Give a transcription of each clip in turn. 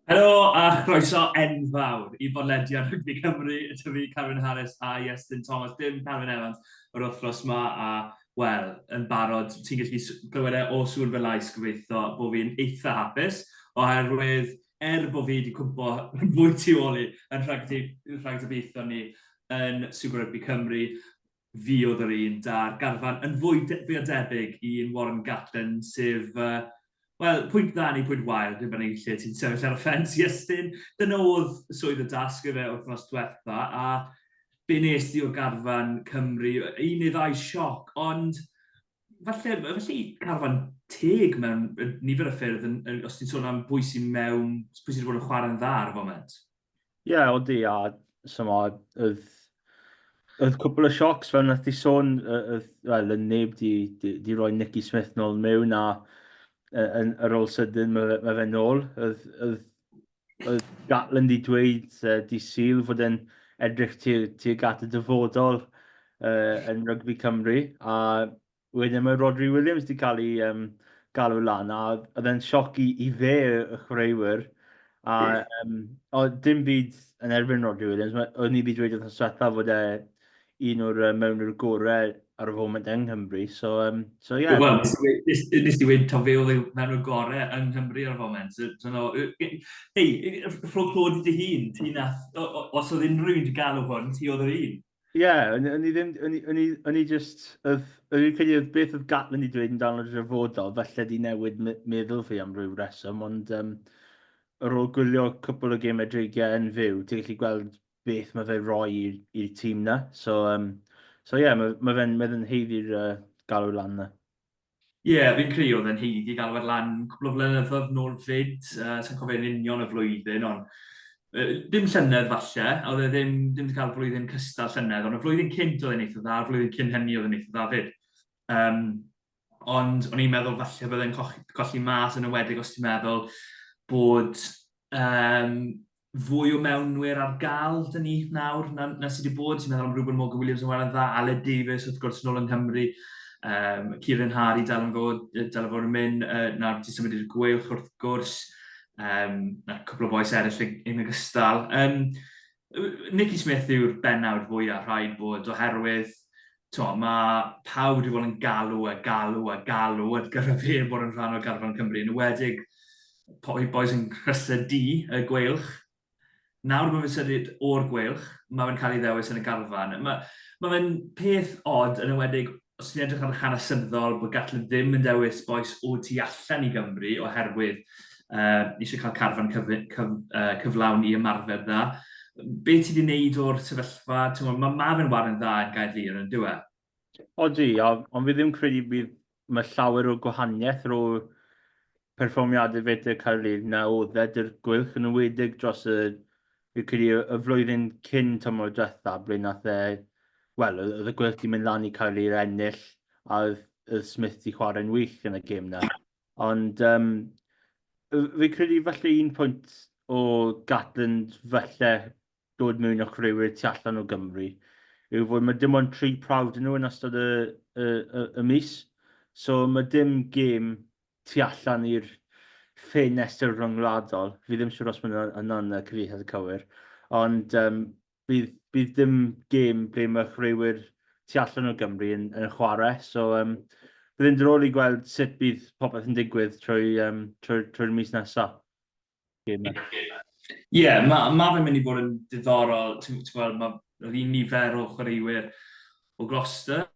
Helo a chroeso enfawr i bodlediad Rygbi Cymru, y tyfu Carwyn Harris a Iestyn Thomas, dim Carwyn Evans yr wythnos ma a wel, yn barod, ti'n gallu glywed e o sŵn fy lais gobeithio bod fi'n eitha hapus, oherwydd er bod fi wedi cwmpo fwy tu ôl i yn rhag y rhag y ni yn Super Rygbi Cymru, Fuodd yr un 'da'r garfan yn fwy fwy o debyg i un Warren Gatland, sef, wel, pwynt dda neu pwynt wael, dim yn unig lle ti'n sefyll ar y ffens, Iestyn. Dyna oedd swydd y dasg ife wythnos diwetha, a be nes di o garfan Cymru? Un neu ddau sioc, ond falle, felly carfan teg mewn nifer o ffyrdd, yn, yn, os ti'n sôn am bwy sy'n mewn, pwy sydd wedi bod yn chwarae'n dda ar y foment? Ie, odi a chimod, oedd oedd cwpl o siocs fel wnaeth ti sôn, yy oedd wel oedd neb 'di 'di 'di rhoi Nicky Smith nôl mewn a yy yn ar ôl sydyn ma' fe ma' fe nôl. Oedd oedd oedd Gatland 'di dweud yy dydd Sul fod e'n edrych tuag tuag at y dyfodol yy yn rygbi Cymru a Wedyn mae Rhodri Williams 'di cael ei yym galw lan a oedd e'n sioc i i fe y chwaraewyr a yym oedd dim byd yn erbyn Rhodri Williams ma' o'n i 'di dweud wythnos diwetha fod e un o'r yy mewnwyr gore ar y foment yng Nghymru so yym so ie. Wel nes i we- nes nes i weud taw fe oedd y mewnwr gore yng Nghymru ar y foment so so no yy yy hei yy rho clod i dy hun ti nath o- o- os oedd unrhyw un 'di galw hwn ti oedd yr un. Ie, o'n o'n i ddim... o'n i o'n i o'n i jyst... oedd... o'n i'n credu oedd beth oedd Gatland wedi dweud amdano yn draddodol, falle 'di newid me- meddwl fi am ryw reswm, ond yym ar ôl gwylio cwpwl o gemau dreigiau yn fyw, ti'n gallu gweld beth mae fe'n rhoi i'r i'r tîm 'na. So yym so ie, ma' ma' fe'n ma' fe'n haeddu'r yy galw lan 'na. Ie, fi'n credu oedd e'n haeddu galw ar lan cwpl o flynyddoedd nôl 'fyd, sa i'n cofio yn union y flwyddyn ond dim llynedd falle, a oedd e ddim ddim 'di cael flwyddyn cystal llynedd ond y flwyddyn cynt oedd e'n eitha dda, flwyddyn cyn hynny oedd e'n eitha dda 'fyd. Yym ond o'n i'n meddwl falle bydde'n coch- colli mas yn enwedig os ti'n meddwl bod yym fwy o mewnwyr ar gael dyn ni nawr na, na sydd wedi bod. Ti'n meddwl am Reuben Morgan Williams yn wael yn dda, Aled Davies wrth gwrs yn ôl yng Nghymru, um, Kieran Harry dal yn fod, dal yn fod yn mynd, uh, nawr ti'n symud i'r gwylch wrth gwrs, um, na cwpl o boes eraill yn ogystal. Um, Nicky Smith yw'r benawd fwyaf rhaid bod oherwydd Timo, mae pawb wedi bod yn galw a galw a galw at gyfer fe bod yn rhan o garfan Cymru, yn ywedig poi boys yn rhestr D, y gweilch. Nawr bod fe'n symud o'r gweilch, mae fe'n cael ei ddewis yn y garfan. Mae, mae fe'n peth od, yn ywedig os ti'n edrych ar hanesyddol bod Gatlin ddim yn dewis bois o tu allan i Gymru oherwydd uh, eisiau cael carfan cyf, cyf, uh, cyflawn i ymarfer dda. Be ti wedi wneud o'r sefyllfa? Mae ma, ma fe'n wario'n dda yn gael lir yn dywe? Odi, ond fi ddim credu bydd mae llawer o gwahaniaeth rho perfformiadau fetr Caerlid na o ddedr gwylch yn ymwedig dros y, fi credu, y flwyddyn cyn tymor diwetha, ble nath e, wel, oedd y gwylch di mynd lan i Caerlid ennill, a oedd, oedd Smith di chwarae'n wych yn y gêm na. Ond yym fi'n credu falle un pwynt o Gatland falle dod mewn â chwaraewyr tu allan o Gymru yw fod mae dim ond tri prawf dyn nhw yn ystod y y y y mis. So mae dim gêm tu allan i'r ffenestr ryngwladol. Fi ddim siŵr os mae hwnna'n cyfieithiad cywir. Ond yym bydd bydd dim gêm ble mae chwaraewyr tu allan o Gymru yn yn chwarae, so yym bydd e'n diddorol i gweld sut bydd popeth yn digwydd trwy yym trwy trwy'r mis nesa. Gêm Ie, ma' ma' fe'n mynd i fod yn diddorol, ti'n ti'n gweld, ma' yr un nifer o chwaraewyr o Gloucester,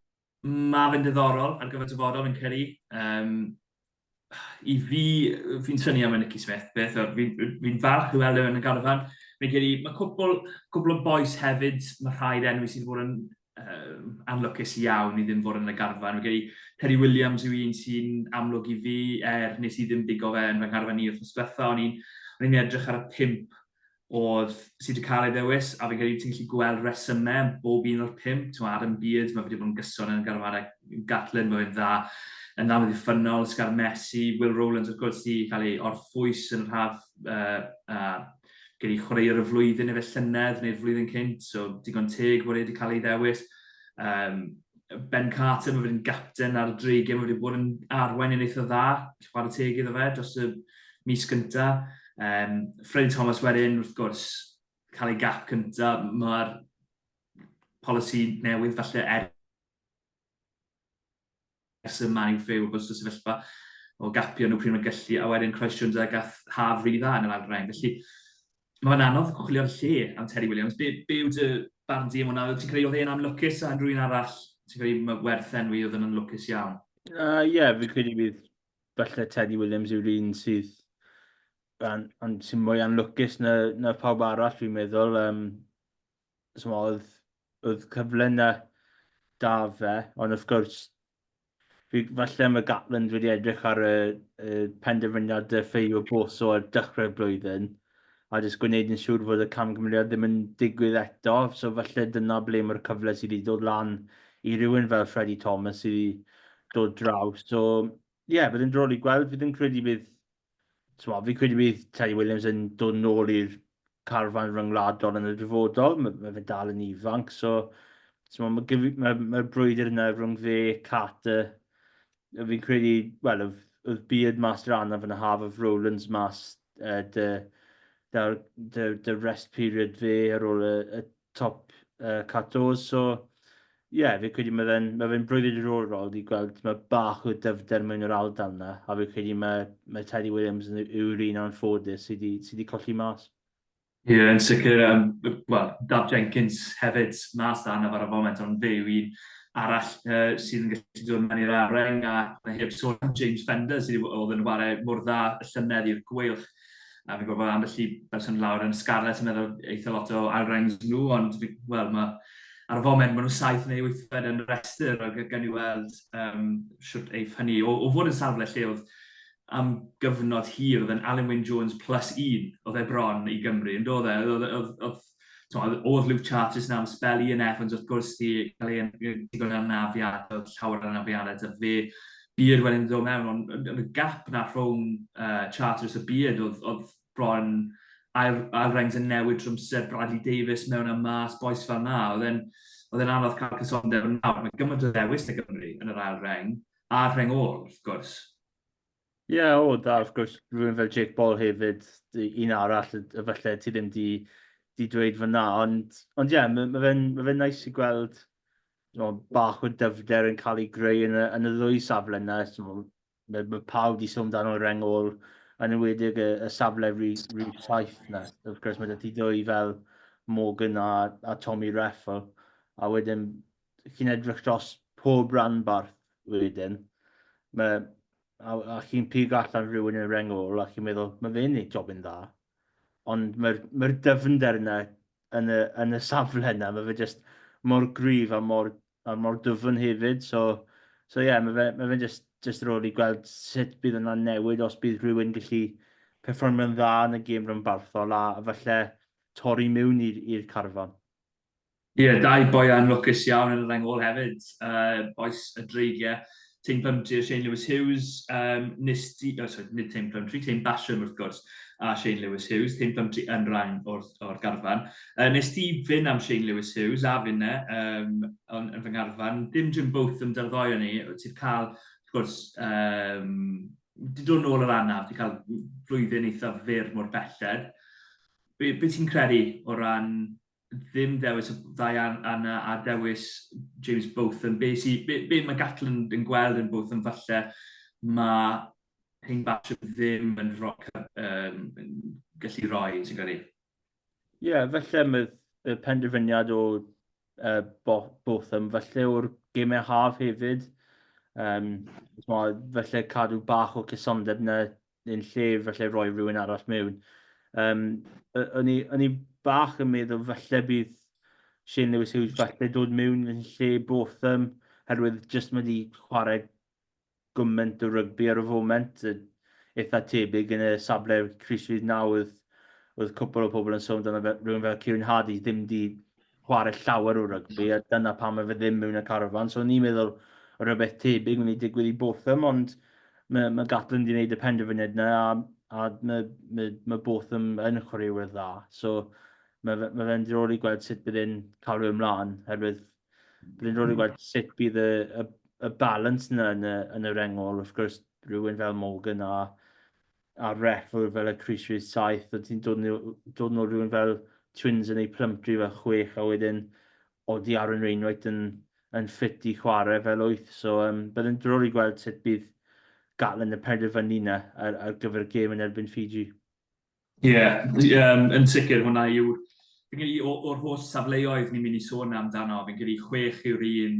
Mae fe'n ddiddorol ar gyfer dyfodol yn credu. Um, I fi, fi'n syni am y Nicky Smith, beth o'r, fi'n fi falch i weld e yn y garfan. Fi'n credu, mae cwpl, cwpl o boes hefyd, mae rhaid enw sydd wedi bod yn um, anlwcus iawn i ddim fod yn y garfan. Fi'n credu, Terry Williams yw un sy'n amlwg i fi, er nes i ddim digo fe yn fy ngharfan i wrth ysbletha, o'n i'n edrych ar y pimp oedd, sydd wedi cael ei ddewis, a fi'n credu ti'n gallu gweld resymau yn bob un o'r pimp. Ti'n Adam Beard, mae wedi bod yn gyson yn garfarau Gatlin, mae fe'n dda yn dda wedi ffynol, Sgar Messi, Will Rowlands, wrth gwrs, wedi cael ei orffwys yn y rhaf uh, uh, gen i chwaraewr y flwyddyn efo llynedd neu'r flwyddyn cynt, so digon teg bod e wedi cael ei ddewis. Um, Ben Carter, mae wedi'n gapten ar y dreigiau, mae wedi bod yn arwain yn eitha dda, chwarae teg iddo fe dros y mis gynta. Um, Freddie Thomas wedyn, wrth gwrs, cael ei gap cynta, mae'r polisi newydd falle er ers y man i'w ffew bod y sefyllfa o gapio nhw pryd mae'n gallu, a wedyn Croes Jones a gath haf rili dda yn yr ail rhain. Felly, Mae fe'n anodd chwilio'r lle am Terry Williams. Be, be yw dy barn di am hwnna? Ti'n credu oedd e'n anlwcus a rhywun arall? Ti'n credu mae werth enwi oedd yn anlwcus iawn? Ie, uh, yeah, fi'n credu bydd falle Teddy Williams yw'r un sydd an, an, sy'n mwy anlwcus na, na pawb arall, fi'n meddwl. Um, so oedd, oedd cyfle na da fe, ond wrth gwrs, Fi, falle mae Gatland wedi edrych ar y, y penderfyniad y ffeio boso ar dechrau'r blwyddyn a jyst gwneud yn siŵr fod y camgymeriad ddim yn digwydd eto. So falle dyna ble mae'r cyfle sydd wedi dod lan i rywun fel Freddie Thomas sydd wedi dod draw. So ie, yeah, bydd yn drol i gweld. Fi ddim credu bydd Timo, fi credu bydd Teddy Williams yn dod yn ôl i'r carfan ryngwladol yn y dyfodol. Mae, mae fe dal yn ifanc, so timo, mae, mae, mae brwydr yna rhwng fe, Carter, fi'n credu, wel, oedd Beard mas dra yna fan y haf, oedd Rowlands mas uh, dy, dy, dy, dy rest period fe ar ôl y, y top uh, Catos. So, ie, yeah, fi credu mae fe'n ma fe brwyddyn diddorol i gweld mae bach o dyfder mewn yr aldal yna, a fi credu mae, mae Teddy Williams yn yw'r un o'n ffodus sydd wedi sy colli mas. Ie, yeah, yn sicr, um, well, Daf Jenkins hefyd mas da yna ar y foment, ond fe yw un arall uh, sydd yn gallu dod mewn i'r areng a mae heb sôn am James Fender sydd oedd yn chwarae mor dda y llynedd i'r gweilch A fi'n gwybod bod ambell i berson lawr yn Scarlets yn meddwl eitha lot o ail rangs nhw, ond wel, mae ar y foment maen nhw saith neu wythfed yn rhestr, ac gan i weld um, siwt eiff hynny, o, o fod yn safle lle oedd am gyfnod hir, oedd yn Alan Wyn Jones plus un, oedd e bron i Gymru, yn dod e, oedd, oedd, oedd Tywed, oedd Luke Chartis na am spel Ian Evans wrth gwrs di cael ei ddigon anafiadau, llawer anafiadau da fe. Beard wedyn ddod mewn, ond yn y gap na rhwng uh, Chartis a Beard oedd, oedd bron ail, ail rengs yn newid trwmser Bradley Davis mewn a mas, boes fel na. Oedd e'n oedd e'n anodd cael cysondeb yn nawr. Mae gymaint o ddewis na Gymru yn yr ail reng, a'r reng ôl, wrth gwrs. Ie, o, da, wrth gwrs, rhywun fel Jake Paul hefyd, un arall y falle ti ddim di, di dweud fyna, ond, ond ie, yeah, mae ma fe'n ma fe nice i gweld mo, bach o dyfder yn cael ei greu yn y, yn y ddwy safle yna. Mae, ma pawb wedi sôn dan o'r rengol, yn ymwedig y, y safle rhy, rhy saith yna. Wrth gwrs, mae dati ddwy fel Morgan a, a Tommy Reffel, a wedyn chi'n edrych dros pob ranbarth wedyn, ma, a, a chi'n pigo allan rhywun yn y reng ôl a chi'n meddwl, mae fe'n ei jobyn dda. Ond mae'r mae dyfnder yna yn y, yn y safle yna, mae fe jyst mor gryf a mor, a mor dyfn hefyd. So, so ie, yeah, mae fe, mae fe jyst, jyst rôl i gweld sut bydd yna'n newid os bydd rhywun gallu perfformio'n dda yn y gêm rhanbarthol a, a falle torri miwn i'r carfan. Ie, dau boi anlwcus iawn yn y reng ôl hefyd, bois y Dreigiau, Tayne Plumtree a Shane Lewis Hughes. Um, nes di, oh, sorry, nid Tayne Plumtree, Tayne Basham wrth gwrs, a Shane Lewis Hughes, Tayne Plumtree yn rhan o'r, or garfan. Uh, nes di fyn am Shane Lewis Hughes a finne um, yn, yn fy ngarfan, dim Jim Booth yn dy'r ddoi o ni, ti'n cael, wrth gwrs, um, di dod nôl yr anaf, ti'n cael flwyddyn eithaf fyr mor belled. Be, be ti'n credu o ran ddim dewis y ddau anna a dewis James Botham. Be, si, be, be mae Gatland yn gweld yn Botham falle mae Hyn Basham ddim yn rhoi, um, gallu rhoi, ti'n gwneud? Ie, yeah, felly mae y penderfyniad o uh, Botham, felly o'r gemau haf hefyd, um, felly cadw bach o cysondeb na yn lle falle rhoi rhywun arall mewn. Um, o'n, i, o'n i bach yn meddwl falle bydd Shane Lewis Hughes falle dod mewn yn lle Botham, herwydd jyst mae wedi chwarae gymaint o rygbi ar y foment, eitha tebyg yn y safle Chris Reid nawr, oedd, oedd cwpl o pobl yn sôn amdano rhywun fel Kieran Hardy ddim wedi chwarae llawer o rygbi, a dyna pam mae fe ddim mewn y carafan. So ni'n meddwl rhywbeth tebyg mynd i digwydd i Botham, ond mae, mae Gatlin wedi gwneud y penderfyniad yna, a, a mae, mae, mae Botham yn chwaraewyr dda. So mae, fe, mae fe'n drol i gweld sut bydd e'n cael rhywun mlaen, herwydd bydd e'n drol i gweld sut bydd y, y, y balance yna yn y, yn y rengol, wrth gwrs, rhywun fel Morgan a a ref oedd fel y Chris Reeves 7 a ti'n dod nhw, dod nhw rhywun fel Twins yn ei Plumptree fel 6 a wedyn oedd i Aaron Wainwright yn, yn ffit i chwarae fel 8 so um, bydd yn drwr i gweld sut bydd Gatland yn penderfynu yna ar, ar gyfer y gêm yn erbyn Fiji. Ie, yeah, um, yn sicr hwnna yw fi'n credu o'r holl safleoedd ni'n mynd i sôn amdano, fi'n credu chwech yw'r un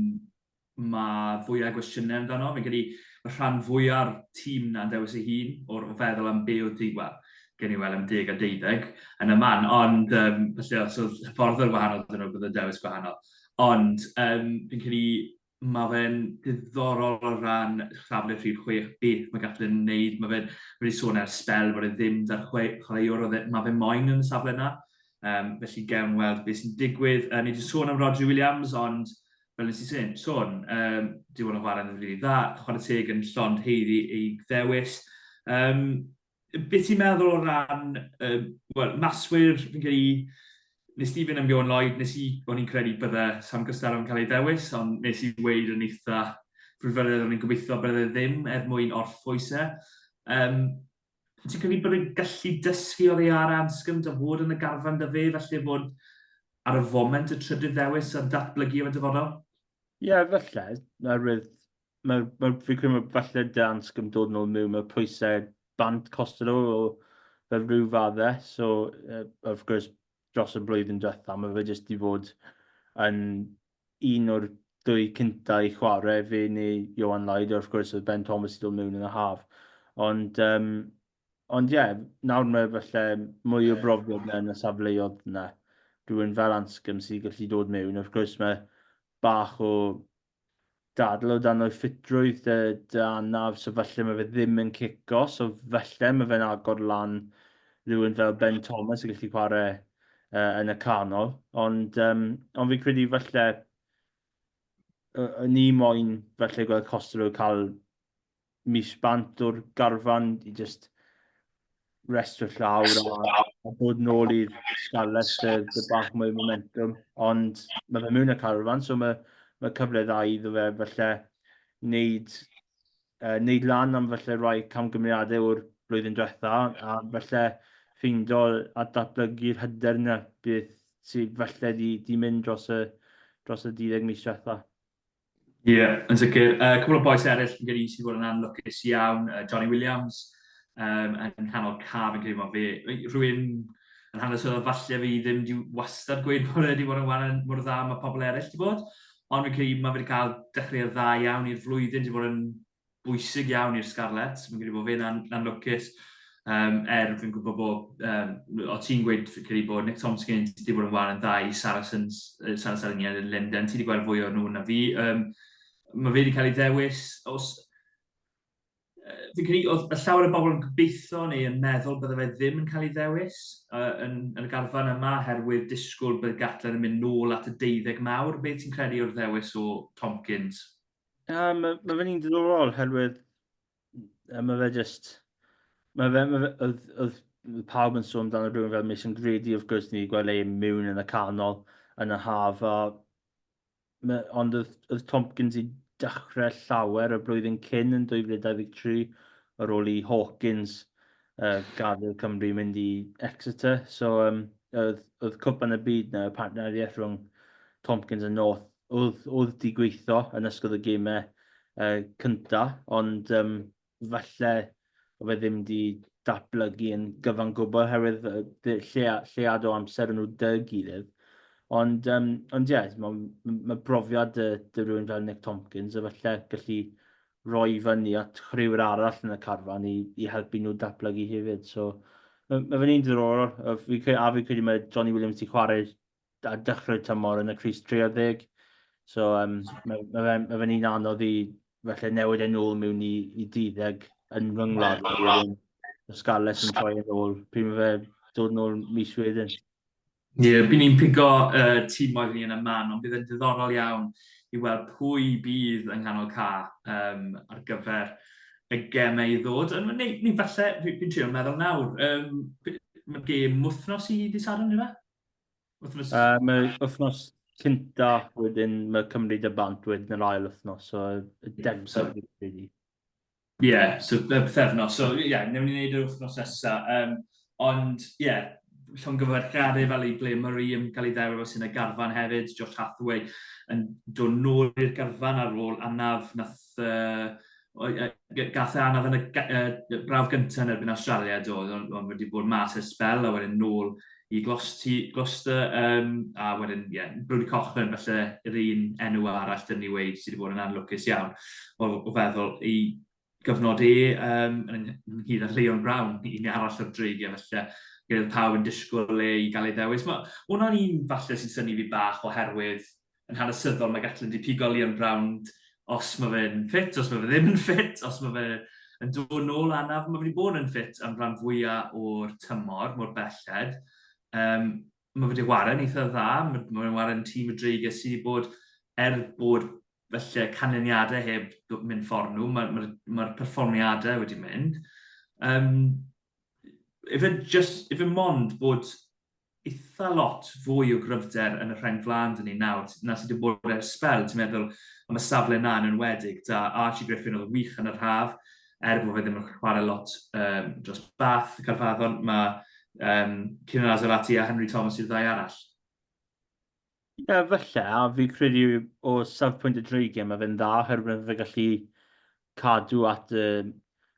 mae fwyau gwestiynau amdano. Fi'n credu y rhan fwya'r tîm na'n dewis ei hun o'r o feddwl am be oedd diwedd gen i weld am deg a deuddeg yn y man, ond um, felly os oedd ffordd o'r wahanol dyn nhw bydd y dewis gwahanol. Ond um, fi'n credu mae fe'n diddorol o ran safle rhif 6, beth mae gallu yn wneud. Mae fe'n wedi sôn ar spel bod e ddim da'r chwaraewr oedd e, mae fe moyn yn y safle yna. Um, felly gewn weld beth sy'n digwydd. Uh, ni wedi sôn am Rodri Williams, ond fel nes i sôn, sôn um, diwon o chwarae yn rili dda, chwarae teg yn llond heiddi ei ddewis. Um, beth ti'n meddwl o ran, um, well, maswyr, fi'n cael ei, nes ti fynd am Johan Lloyd, nes i, o'n i'n credu bydde Sam Gystar yn cael ei ddewis, ond nes i weid yn eitha frwdfyredd o'n i'n gobeithio bydde ddim er mwyn orffwys e. Um, Wyt ti'n credu bod e'n gallu dysgu oddi ar Anscombe a fod yn y garfan 'da fe, falle bod ar y foment y trydydd ddewis a datblygu efo'r dyfodol? Ie, falle. Oherwydd, mae, mae, fi'n credu mae falle da Anscombe dod yn ôl mewn, mae pwysau bant Costello o fel rhyw faddau, so uh, wrth gwrs dros y blwyddyn diwethaf, mae fe jyst i fod yn un o'r dwy cynta i chware, fe neu Ioan Lloyd, wrth gwrs oedd Ben Thomas wedi dod mewn yn y haf. Ond um, ond ie, yeah, nawr mae falle mwy o brofiad na yn y safleoedd yna. Rwy'n fel ansgym sydd wedi gallu dod mewn. Wrth gwrs mae bach o dadl o dan o'i ffitrwydd dy, dy anaf, so falle mae fe ddim yn cico, so falle mae fe'n agor lan rhywun fel Ben Thomas yn gallu chwarae yy yn y canol, ond um, ond fi'n credu falle ni moyn falle gweld Costello cael mis bant o'r garfan i just rest o llawr a, a bod nôl i'r scarlet y, y bach mwy momentum. Ond mae fe mewn y carfan, so mae, mae cyfle dda iddo fe falle wneud uh, wneud lan am felly rhai camgymeriadau o'r blwyddyn diwetha a felly ffeindio a datblygu'r hyder yna beth sydd felly di, di mynd dros y, dros y 12 mis diwetha. Ie, yeah, yn sicr. Uh, cwbl o boes eraill yn gyda i sydd wedi bod yn anlwcus iawn, uh, Johnny Williams, um, yn nghanol caf yn creifo fe. Rwy'n yn hanes oedd falle fi ddim wedi wastad gweud bod wedi bod yn wahanol mor dda mae pobl eraill wedi bod, Ond fi'n credu mae fe wedi cael dechreuad dda iawn i'r flwyddyn, wedi bod yn bwysig iawn i'r Scarlets. Fi'n credu bod fe'n an anlwcus, um, er fi'n gwybod bod, um, o ti'n gweud fi'n credu bod Nick Tomskins wedi bod yn wael yn dda i Saracens, uh, Saracens yn Linden, ti wedi gweld fwy o nhw na fi. Um, mae fe wedi cael ei ddewis, os fi'n credu oedd y llawer o bobl yn gobeithio neu yn meddwl bydde fe ddim yn cael ei ddewis uh, yn, yn y garfan yma herwydd disgwyl bydd Gatland yn mynd nôl at y deuddeg mawr. Be ti'n credu o'r ddewis o Tomkins? Uh, mae ma fe'n un diddorol herwydd uh, mae fe just... Mae fe, ma fe, oedd, oedd pawb yn sôn dan y rhywun fel Mason Grady, wrth gwrs, ni wedi gweld ei mewn yn y canol yn y haf, a Mae... ond oedd oedd Tompkins i dechrau llawer y blwyddyn cyn yn 2023 ar ôl i Hawkins uh, gadael Cymru mynd i Exeter. So um, oedd, oedd cwpan y byd na, y partneriaeth rhwng Tompkins a North oedd, oedd di gweithio yn ysgol y gemau uh, cyntaf, ond um, falle o fe ddim wedi datblygu yn gyfan gwbl oherwydd llead o amser yn nhw dy gilydd. Ond, um, ond ie, yeah, mae ma brofiad dy, dy rhywun fel Nick Tompkins a falle gallu roi fyny at rhywun arall yn y carfan i, i helpu nhw datblygu hefyd. So, mae ma fe'n un diddorol, a fi'n credu mae Johnny Williams wedi chwarae ar dechrau tymor yn y crys 30. So, um, mae, mae fe'n mae fe un anodd i felly newid e'n ôl mewn i, i 30 yn fy ngwlad. Y Scarlets yn troi yn ôl. Pryd mae fe dod yn ôl mis wedyn? Ie, yeah, bydd ni'n pigo uh, tîm oedd ni yn y man, ond bydd e'n diddorol iawn i weld pwy bydd yng nghanol ca um, ar gyfer y gemau i ddod. Neu, neu falle, fi'n trio meddwl nawr, um, mae'r gêm wythnos i ddi Sadwrn, yna? Wythnos... Uh, mae wythnos cynta, wedyn mae Cymru dy bant wedyn yr ail wythnos, so y deg so, Ie, yeah, so y bythefnos. So ie, yeah, newn ni wneud yr wythnos nesa. Um, ond ie, yeah, llongyfarchiadau fel i ble Murray yn cael ei ddewr sy'n y garfan hefyd, Josh Hathaway yn dod nôl i'r garfan ar ôl anaf nath uh, gath e anodd yn y uh, brawf gyntaf yn erbyn Australia do, ond on wedi bod mas ers spel a wedyn nôl i Gloucester um, a wedyn, ie, yeah, Brody Cochran felly yr un enw arall dyn ni wedi sydd wedi bod yn anlwcus iawn o, o feddwl i gyfnod e um, yn ynghyd â Leon Brown, un arall o'r dreigiau felly gyda pawb yn disgwyl e i gael ei ddewis. Mae hwnna'n un falle sy'n syni fi bach oherwydd yn hanesyddol, mae Gatlin wedi pigo Leon Brown os mae fe'n ffit, os mae fe ddim yn ffit, os mae fe yn dod nôl anaf, mae fe wedi bod yn ffit am rhan fwyaf o'r tymor, mor belled. Um, mae fe wedi warren eitha dda, mae fe'n warren tîm y dreigiau sydd wedi bod er bod felly canlyniadau heb mynd ffordd nhw, mae'r ma, ma, ma perfformiadau wedi mynd. Um, efe, just, efe mond bod eitha lot fwy o gryfder yn y rheng flaen 'da ni nawr na sydd 'di bod ers sbel, ti'n meddwl am y safle 'na yn enwedig 'da Archie Griffin oedd yn wych yn yr haf, er bo fe ddim yn chware lot yym dros Bath, Caerfaddon, ma' yym Kieran Azzourati a Henry Thomas yw'r ddau arall. Ie, falle, a fi'n credu o safpwynt y dreigiau mae fe'n dda oherwydd mae fe gallu cadw at y...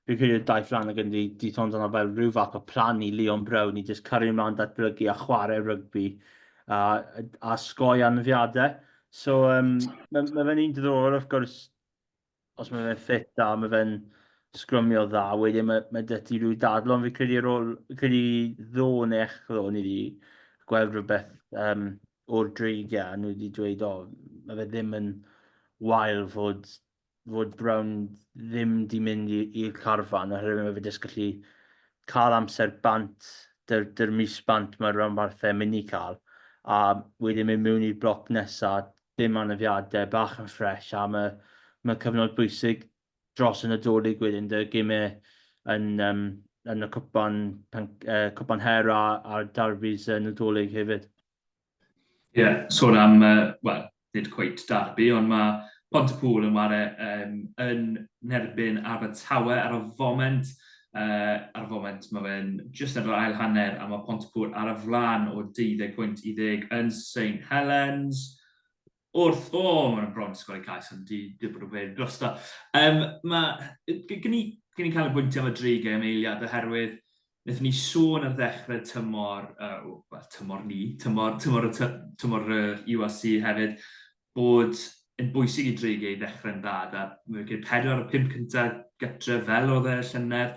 Fi'n credu y daith lan Flanagan 'di 'di sôn amdano fel rhyw fath o plan i Leon Brown i jyst cario mlaen datblygu a chwarae rygbi a a osgoi aneddiadau. So yym ma' ma' fe'n un diddorol wrth gwrs os mae fe'n ffit a mae fe'n sgrymio dda, wedyn mae, mae dy ti rhyw dadl, ond fi'n credu ar ôl, fi'n credu ddo neu eich ddo, ni wedi gweld rhywbeth um, o'r dreigiau, nhw wedi dweud, o, mae fe ddim yn wael fod, fod Brown ddim di mynd i'r carfan, oherwydd mae fe jyst gallu cael amser bant, dy'r, dyr mis bant mae'r rhanbarthau mynd i cael, a wedyn mynd mewn i'r bloc nesaf, dim anafiadau, bach yn ffresh a mae mae'n cyfnod bwysig dros y Nadolig wedyn, 'da gemau yn yym yn y cwpan pen- yy cwpan her a a'r Derbys y Nadolig hefyd. Ie, sôn am yy wel, nid cweit Derby ond mae Pontypŵl yn ware yym yn nerbyn Abertawe ar y foment Ar y foment, mae fe'n jyst ar yr ail hanner a mae Pontypŵr ar y flaen o 20 pwynt i ddeg yn Saint Helens. Wrth, o, mae nhw'n bron 'di sgori cais ond 'di dim bod yn wir drosto. Yym, mae, gen i, gen i canolbwyntio am y dri gêm eiliad oherwydd wnaethon ni sôn ar ddechrau tymor, uh, well, tymor ni, tymor, tymor, y tymor yr URC hefyd, bod yn bwysig i Dreigiau ddechrau'n dda gyda wicket pedwar o'r pump cyntaf gytre fel oedd e y llynedd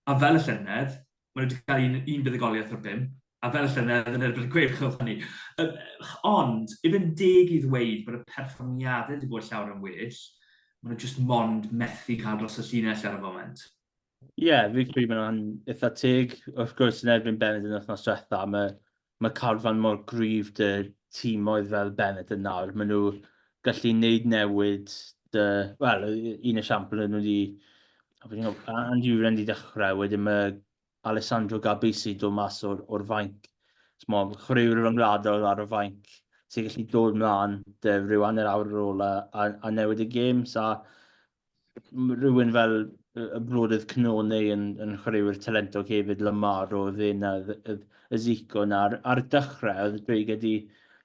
a fel y llynedd maen nhw wedi cael un, un buddugoliaeth o'r pump a fel y llynedd yn erbyn y Gweilch oedd hynny. Ond, i fynd deg i ddweud bod y perfformiadau wedi bod llawer yn well, maen nhw jyst mond methu cael dros y llinell ar y foment. Ie, fi'n credu bod hwnna'n eitha teg. Wrth gwrs, yn erbyn Bennett yn wythnos diwetha, mae ma carfan mor gryf dy tîmoedd fel Bennett yn nawr. Maen nhw gallu wneud newid dy... Wel, un esiampl yn wedi... Andy Uren wedi dechrau, wedyn mae Alessandro Gabisi dod mas o'r, or fainc. Mo, chwaraewr ryngwladol ar y fainc sy'n gallu dod mlaen dy rhyw anner awr ar ôl a, a, a newid y gêm. Sa, rhywun fel y brodydd Cnone yn, yn chwaraewyr talentog hefyd, Lamar o ddyn a y Zico yna. Ar, ar dechrau, oedd Dweig wedi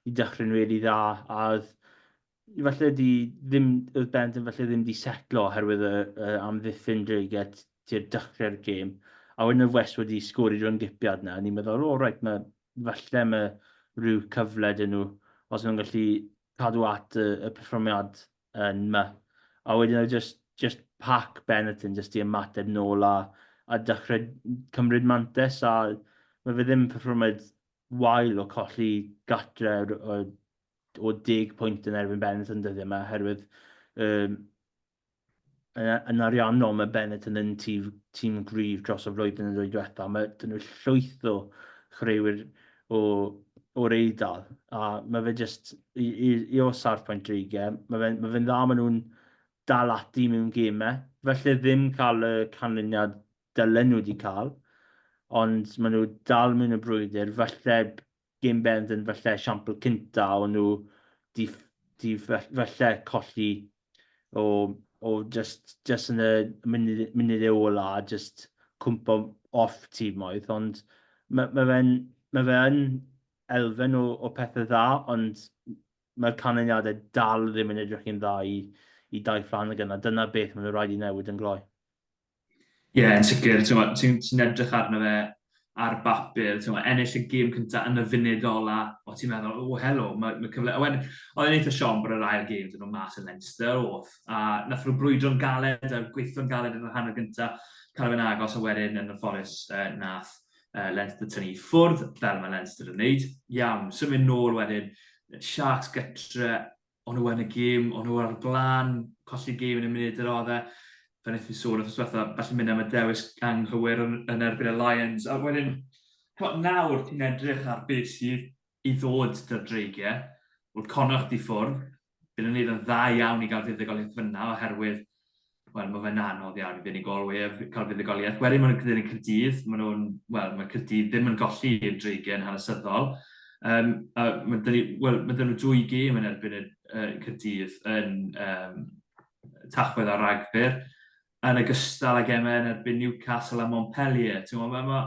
i dechrau'n rili dda, a oedd falle di ddim, oedd Bent yn falle ddim di setlo oherwydd y, y amddiffyn Dreiget tu'r dechrau'r gêm. A wedyn y West wedi sgori drwy'n gipiad na, ni'n meddwl, o, oh, reit, mae, falle mae rhyw cyfle dyn nhw, os nhw'n gallu cadw at y, y perfformiad yn ma. A wedyn oedd just, just pac Benetton just i ymateb nôl a, a dechrau cymryd mantes a mae fe ddim perfformiad wael o colli gatre o, o deg pwynt yn erbyn Benetton dyddiau yma oherwydd um, Yn ariannol, mae Bennett yn un tîm, tîm gryf dros y flwyddyn yn ddwy diwetha. Mae dyn nhw llwyth o chreuwyr o, o'r eidl, a mae fe jyst, i, i, i o sarffaint dreigiau, mae fe'n mae fe dda, maen nhw'n dal ati mewn gemau. Felly ddim cael y canlyniad dylen nhw wedi cael, ond maen nhw dal mewn y brwydr, felly Game Bend yn falle esiampl cynta o nhw 'di 'di falle colli o o jyst jyst yn y munud munudau ola a jyst cwmpo off timoedd ond ma' ma' fe'n ma' fe yn elfen o o pethe dda ond mae'r canlyniadau dal ddim yn edrych yn dda i i Daith Flanagan a dyna beth maen nhw'n rhaid i newid yn gloi. Ie, yn sicr. Ti'n ti, ti edrych arno fe ar bapur, ti'n ennill y gêm cyntaf yn y funud ola, o ti'n meddwl, o helo, mae, mae cyfle... Owen, oedd e'n eitha siom bod yr ail gêm dyn nhw mas yn Leinster, off, a nath nhw brwydro'n galed a gweithio'n galed yn yr hanner gyntaf, cael fe'n agos a wedyn yn y fforus uh, nath uh, Leinster tynnu ffwrdd, fel mae Leinster yn neud. Iawn, symud nôl wedyn, Sharks gytre, o'n nhw yn y gêm, o'n nhw ar y blaen, colli gêm yn y munud yr oedd e. Fe wnaeth ni sôn wrth yswetha, felly mynd am y dewis anghywir yn, yn erbyn y Lions. A wedyn, cymod, nawr ti'n edrych ar beth sydd i ddod dy'r dreigiau. Wrth connoch di ffwrdd, bydd yn neud yn dda iawn i gael fuddugoliaeth fyna oherwydd wel, mae fe'n anodd iawn i fuddugolwyr cael fuddugoliaeth. Wedyn mae'n gyda'n y Cyrdydd, maen nhw'n, wel, mae Cyrdydd ddim yn golli i'r dreigen hanesyddol. Um, a mae dyn ni, wel, mae dyn nhw dwy gêm yn erbyn y uh, Cyrdydd yn um, tachwedd ar ragfyr, yn ogystal ag emau yn erbyn Newcastle a Montpellier. Mae ma, ma,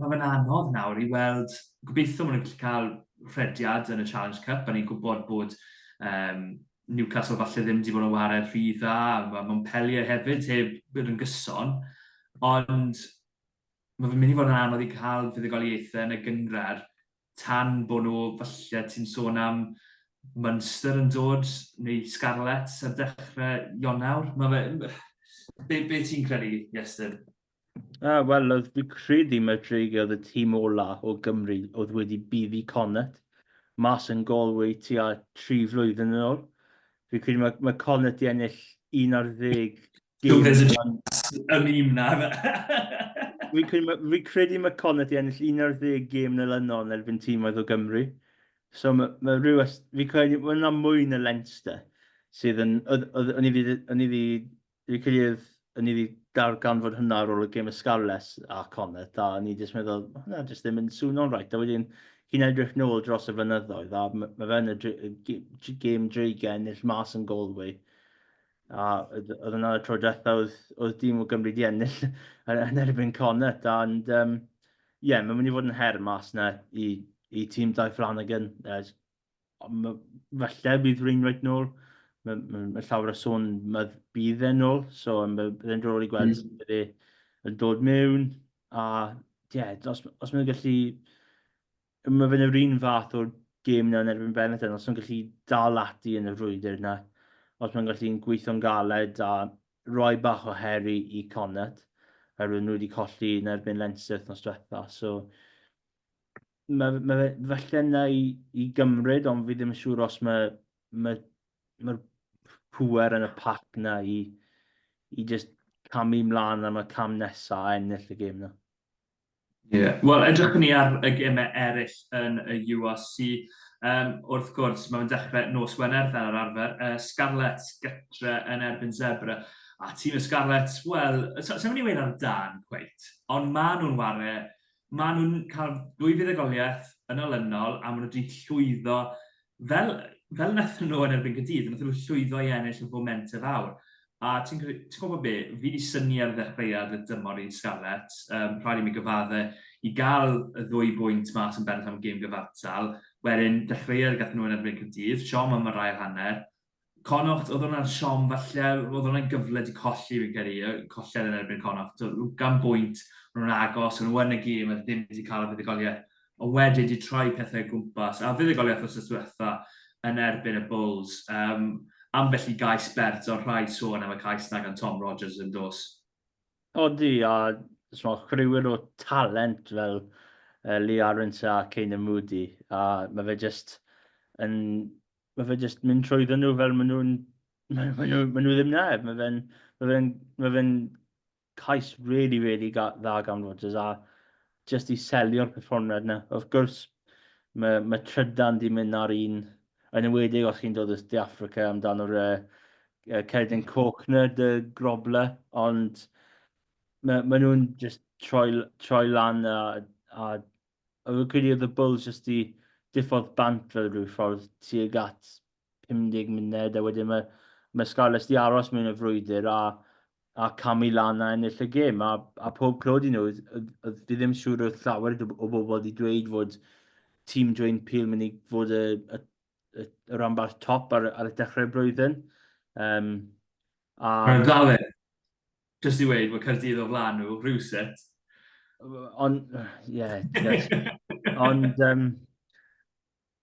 Mae fe'n anodd nawr i weld, gobeithio maen nhw'n gallu cael rhediad yn y Challenge Cup, a ni'n gwybod bod um, Newcastle falle ddim wedi bod yn wared rhy dda, mae Montpellier hefyd heb bod yn gyson, ond mae fe'n mynd i fod yn anodd i cael fuddugoliaethau yn y gyngrair tan bod nhw, falle ti'n sôn am Munster yn dod, neu Scarlets ar dechrau Ionawr. Mae fe... Be, be ti'n credu, Iestyn? Ah, wel, oedd fi credu mae Drake oedd y tîm ola o Gymru oedd wedi buddi Connet mas yn Galway tua tri flwyddyn yn ôl. Fi credu mae, mae Connet i ennill un ar ddeg gym. Yn un na. Fi credu mae Connet i ennill un ar ddeg gym neu lynol yn erbyn tîm oedd o Gymru. So mae, mae rhyw... Fi credu mae yna mwy na Leinster sydd yn... O'n i wedi Dwi credu o'n i wedi darganfod hwnna ar ôl y gêm y Scarlets a Connacht, a o'n i jyst meddwl, ma' hwnna jyst ddim yn swno'n reit. A wedyn, chi'n edrych nôl dros y fynyddoedd, a m- ma' fe yn y dre- g- g- gêm dreigiau ennill mas yn Galway. A oedd oedd hwnna y tro diwetha oedd oedd dîm o Gymru 'di ennill yn yn erbyn Connacht and um, ie, mae'n mynd i fod yn her mas 'na i i tîm Dai Flanagan, uh, falle bydd Wainwright nôl. Mae, mae, mae llawer o sôn mae bydd e'n nôl, so mae byddai'n drol i gweld mm. bydde yn dod mewn. A ie, yeah, os, os mae'n gallu... Mae fe'n yr un fath o'r gêm yna yn erbyn Benetton, os mae'n gallu dal ati yn y frwydr yna, os mae'n gallu'n gweithio'n galed a roi bach o heri i Connaught, oherwydd nhw wedi colli yn erbyn Leinster nos diwetha. So, Mae, mae fe falle na i, i gymryd, ond fi ddim yn siŵr os mae, mae, mae'r pwer yn y pac na i, i just camu mlaen am y cam nesa a ennill y gêm na. Ie, yeah. wel edrych ni ar y gemau eraill yn y URC. Um, wrth gwrs, mae'n dechrau nos Wener fel yr arfer, uh, Scarlet gytre yn erbyn Zebra. A tîm y Scarlet, wel, sef so, so, ni wedi ar dan, cweit, ond maen nhw'n ware maen nhw'n cael dwy fuddugoliaeth yn olynol a maen nhw wedi llwyddo, fel, fel wnaethon nhw yn erbyn Cydydd, wnaethon nhw llwyddo i ennill y fomentau fawr. A ti'n gwybod be, fi wedi syni ar ddechreuad y dymor i'r Scarlets, um, rhaid i mi gyfadde, i gael y ddwy bwynt mas yn bennaf am gêm gyfartal, wedyn dechreuad gath nhw yn erbyn Cydydd, siom am yr ail hanner, Connaught oedd hwnna'n siom falle, oedd hwnna'n gyfle di colli fi'n credu, colled yn erbyn Connaught, gan bwynt, maen nhw'n agos, maen nhw yn y gêm, a ddim wedi cael y fuddugoliaeth, ond wedyn di troi pethau gwmpas, a fuddugoliaeth os diwetha yn erbyn y Bulls, um, ambell i gais bert, ond rhaid sôn am y cais na gan Tom Rogers yn dos. Odi, a mae rhywun o talent fel uh, Lee Aronson a Kane Moody, a mae fe just yn mae fe jyst mynd trwyddo nhw fel maen nhw'n... Maen nhw, maen nhw ddim na. Mae fe'n ma fe ma fe cais really, really ga, dda gan Rodgers a jyst i selio'r perfformiad yna. Wrth gwrs, mae, mae trydan di mynd ar un, yn ymwedig os chi'n dod o De Africa amdano'r uh, uh, cerdyn coch na, dy grobla, ond mae, ma nhw'n just troi, troi lan a, a Yr Orchidea of the Bulls jyst i diffodd bant fel rhyw ffordd tuag at 50 munud a wedyn mae mae Scarlets di aros mewn y frwydr a a camu lan a ennill y gêm a, a pob clod i nhw. Fi ddim siŵr oedd llawer o bobl di dweud fod tîm Dwayne Peel mynd i fod y, y, y, y ranbarth top ar, ar y dechrau'r blwyddyn. Um, a... Mae'n galed. Jyst i weud bod Caerdydd o flan nhw, rhywsut. Ond, ie, ond, um,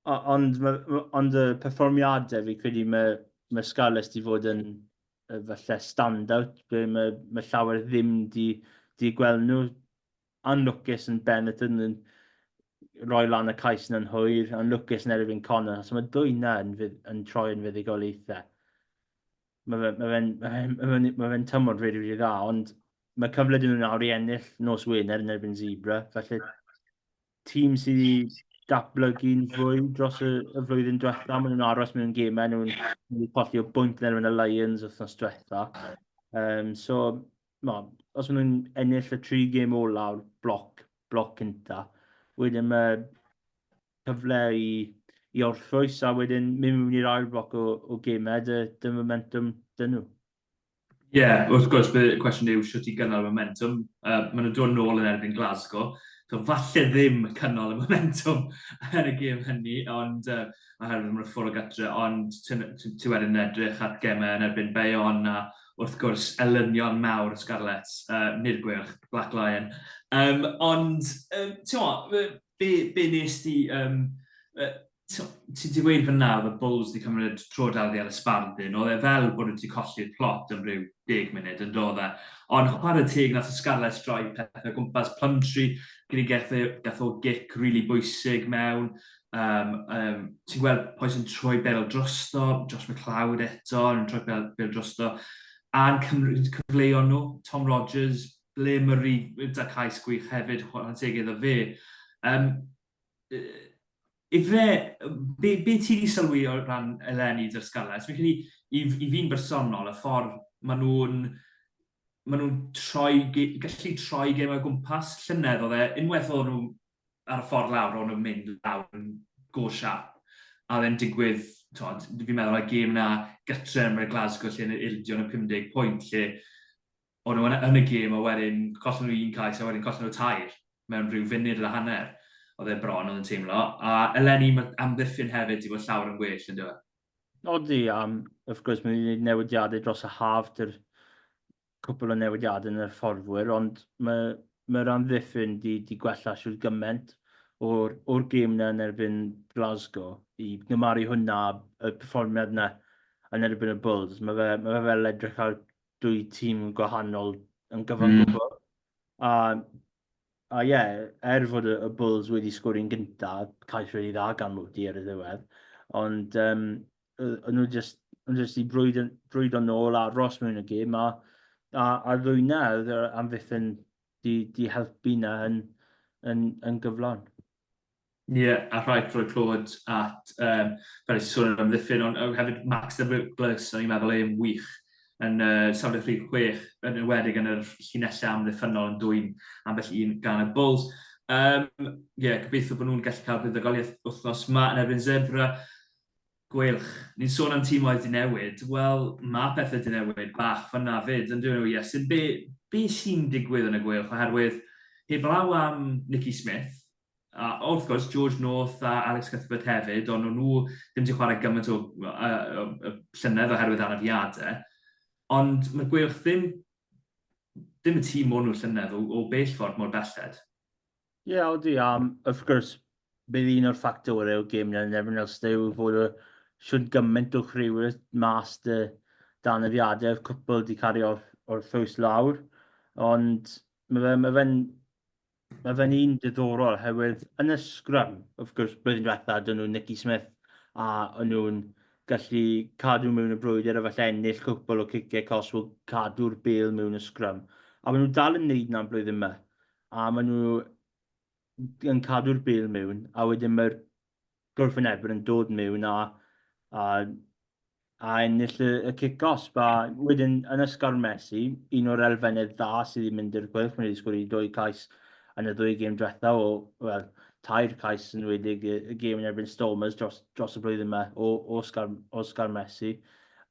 ond, ond y perfformiadau fi credu mae, mae Scarlets di fod yn falle stand-out, mae, mae llawer ddim di, di gweld nhw anlwcus yn Ben y Tun yn rhoi lan y cais yn anhwyr, anlwcus yn erbyn Connor, achos mae dwy na yn, yn troi yn fuddigoliaethau. Mae fe'n ma fe, ma fe, ma fe, ma fe tymor rili, rili dda, ond mae cyfle dyn nhw nawr i ennill nos Wener yn erbyn Zebra, felly tîm sydd i datblygu'n fwy dros y, y flwyddyn diwetha, maen nhw'n aros mewn gemau, nhw'n colli o bwynt yn erbyn y Lions wythnos diwetha. Um, so, Wel, os maen nhw'n ennill y tri gêm olaf o'r bloc, bloc cynta, wedyn mae cyfle i, i orffwys a wedyn mynd mewn i'r ail bloc o, o gemau, dy, dy momentum dyn nhw. Ie, yeah, wrth gwrs, bydd y cwestiwn yw sut i gynnal y momentum. Uh, maen nhw'n dod nôl yn erbyn Glasgow, so falle ddim cynnal y momentum yn y gêm hynny, ond uh, oherwydd mae'n ffwrdd o gytre, ond ti wedyn edrych at gemau yn erbyn Bayonne a wrth gwrs, elynion mawr y Scarlets, yy nid Gweilch, Black Lion. Um, ond, um, ti'n be, be nes ti... Um, uh, ti wedi gweud fyna oedd y Bulls wedi cymryd tro dal di ar y span dyn, oedd e fel bod wedi colli'r plot yn rhyw deg munud yn dod e. Ond chwarae teg nath y Scarlets droi pethau gwmpas Plumtree, gyda gath o gic rili really bwysig mewn, Um, um, ti'n gweld pwy sy'n troi bel drosto, Josh McLeod eto, yn troi bel, bel drosto, a'n cyfleuon nhw, Tom Rogers, ble Murray, da cais gwych hefyd, chwarae teg iddo fe. Um, Ife, be, be ti wedi sylwi o ran eleni dy'r Scarlets? Fi'n credu, i, i fi'n bersonol, y ffordd maen nhw'n maen nhw'n troi, gallu troi gem o gwmpas llynedd oedd e, unwaith oedd nhw ar y ffordd lawr, ro'n nhw'n mynd lawr yn go siap. A oedd e'n digwydd, tod, fi'n meddwl y gêm na gytre yn y Glasgow lle yn yr ildio yn y 50 pwynt lle o'n nhw yn y gêm a wedyn collen nhw un cais a wedyn collen nhw tair mewn rhyw funud a hanner. Oedd e bron oedd yn teimlo. A eleni mae amddiffyn hefyd i fod llawer yn well yn dweud. Odi, am, wrth gwrs, mae wedi gwneud newidiadau dros y haf, dy'r cwpl o newidiadau yn y fforddwyr, ond mae mae'r amddiffyn di, di gwella siwr gymaint o'r, or gêm na yn erbyn Glasgow. I gymaru hwnna y perfformiad na yn erbyn y Bulls, mae fe, mae fe fel edrych ar dwy tîm gwahanol yn gyfan mm. gwbl. A a ie, yeah, er fod y, Bulls wedi sgori'n gyntaf, cais wedi dda gan Moody ar y ddiwedd, ond um, o'n nhw jyst o'n nhw jyst 'di brwydro brwydro nôl a aros mewn y gêm a a a ddwyna oedd yr amddiffyn 'di 'di helpu 'na yn yn yn gyflawn. Ie a rhaid rhoi clod at yym fel nes i sôn am amddiffyn ond yy hefyd Max Douglas o'n i'n meddwl e'n wych yn yy safle rhif chwech yn enwedig yn yr llinelle amddiffynnol yn dwyn ambell un gan y Bulls. Yym ie gobeithio bo' nhw'n gallu ca'l buddugoliaeth wthnos 'ma yn erbyn Zebre. Gweilch. Ni'n sôn am tîmoedd 'di newid, wel, ma' pethe 'di newid bach fan'na 'fyd, yndyw e, Iestyn? Be', be' sy'n digwydd yn y Gweilch, oherwydd heblaw am Nicky Smith, a wrth gwrs, George North a Alex Cuthbert hefyd, ond o'n nhw ddim 'di chwarae gymaint o, y, y, y llynedd oherwydd anafiadau, ond mae'r Gweilch ddim, ddim y tîm o'n nhw llynedd o, o bell ffordd mor belled. Ie, odi, a wrth gwrs bydd un o'r ffactorau o gêm yn erbyn Ulster yw fod y shwt gymaint o chwiorydd mas 'da dan y fiadau, oedd cwpl 'di cario off o'r ffrws lawr, ond mae fe ma' fe'n ma' fe'n un diddorol oherwydd yn y scrum, wrth gwrs blwyddyn diwetha 'da nhw Nicky Smith a o'n nhw'n gallu cadw mewn y brwydr a falle ennill cwpl o ciciau cosb o cadw'r bêl mewn y scrum, a maen nhw dal yn wneud 'na'n blwyddyn 'ma. a maen nhw yn cadw'r bêl mewn, a wedyn mae'r gwrthwynebwyr yn dod mewn a, a, a ennill y, y cic os. Ba, wedyn, yn ysgar Messi, un o'r elfennau dda sydd wedi mynd i'r chwilch, mae wedi sgwrdd i dwy cais yn y ddwy gêm diwetha o, wel, tair cais yn wedi y, y gêm yn erbyn Stormers dros, dros y blwyddyn yma o, o, Oscar, Oscar Messi.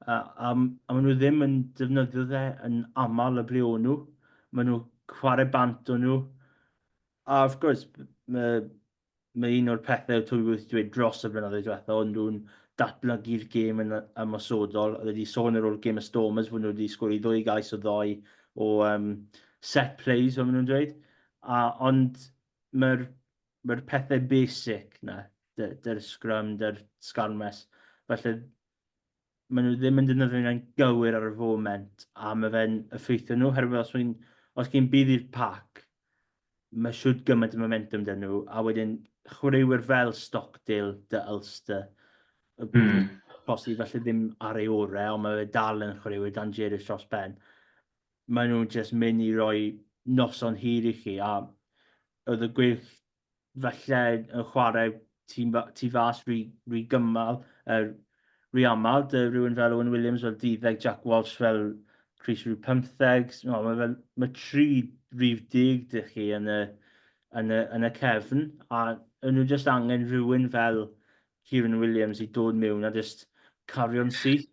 A, a, a maen nhw ddim yn defnyddio dde yn aml y ble o'n nhw. Maen nhw chwarae bant o nhw. A wrth gwrs, mae, mae un o'r pethau twy wrth dweud dros y blynyddoedd diwetha, ond nhw'n datblygu'r gêm yn ymosodol. Oedd wedi sôn ar ôl gêm y Stormers fod nhw wedi sgori ddwy gais o ddoi o um, set plays, fel maen nhw'n dweud. A, ond mae'r mae pethau basic na, dy'r scrum, dy'r sgarmes. Felly, maen nhw ddim yn defnyddio hynna'n gywir ar y foment, a mae fe'n effeithio nhw, herwydd os, ein, os gen bydd i'r pac, mae siwt gymaint o momentum dyn nhw, a wedyn chwaraewyr fel Stockdale, dy Ulster, mm. posi falle ddim ar ei orau, ond mae fe dal yn chwaraewyr dan Jerry Tros Ben. Maen nhw'n just mynd i roi noson hir i chi, a oedd y gwych falle yn chwarae tu, tu fas rhy, rhy gymal, er, rhy aml, dy rhywun fel Owen Williams fel 12, Jack Walsh fel Chris rhyw 15, no, mae, fel, mae tri rhyw dig dych chi yn y, yn y, yn y cefn, a yn nhw jyst angen rhywun fel Kieran Williams i dod mewn a jyst cario'n syth.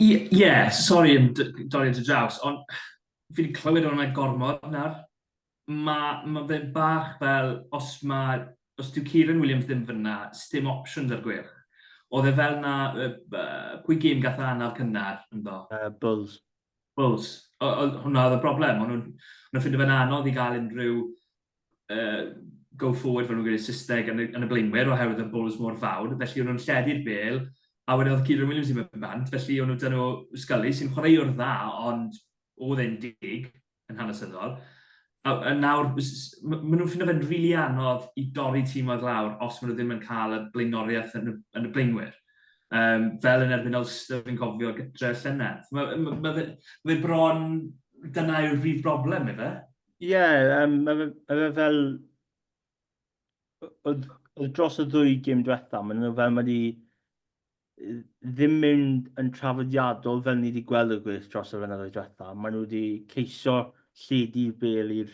Ie, ie, sori yn d- dorri dy draws, ond fi 'di clywed hwnna gormod nawr. Ma' ma' fe'n bach fel os ma'... os dyw Kieran Williams ddim fan'na, sdim options ar gwyrdd. Oedd e fel 'na yy b- pwy gêm gath e anaf cynnar ynddo? Yy Bulls. Bulls. O- oedd hwnna oedd y broblem, o'n nhw'n o'n nhw'n ffindo fe'n anodd i gael unrhyw uh, go forward fel nhw'n gwneud Saesneg yn y, yn y blaenwyr oherwydd y bwls mor fawr, felly o'n nhw'n lledu'r bel a wedyn oedd Kieran Williams i mewn bant, felly o'n nhw dyn nhw Scully sy'n chwaraewr dda ond oedd e'n dig yn hanesyddol. A, a nawr, maen nhw'n ffindo fe'n rili really anodd i dorri tîm oedd lawr os maen nhw ddim yn cael y blaenoriaeth yn y, yn y blaenwyr. Um, fel yn erbyn Ulster yn cofio gytre llynedd. Mae ma, ma, ma, ma bron, dyna yw'r brif broblem, efe? Ie, yym, mae fe mae fe fel... oedd oedd dros y ddwy gêm diwetha, maen nhw fel mae wedi yy, ddim mynd yn traddodiadol fel ni wedi gweld y gwres dros y flynyddoedd diwetha. Maen nhw wedi ceisio lledu'r bel i'r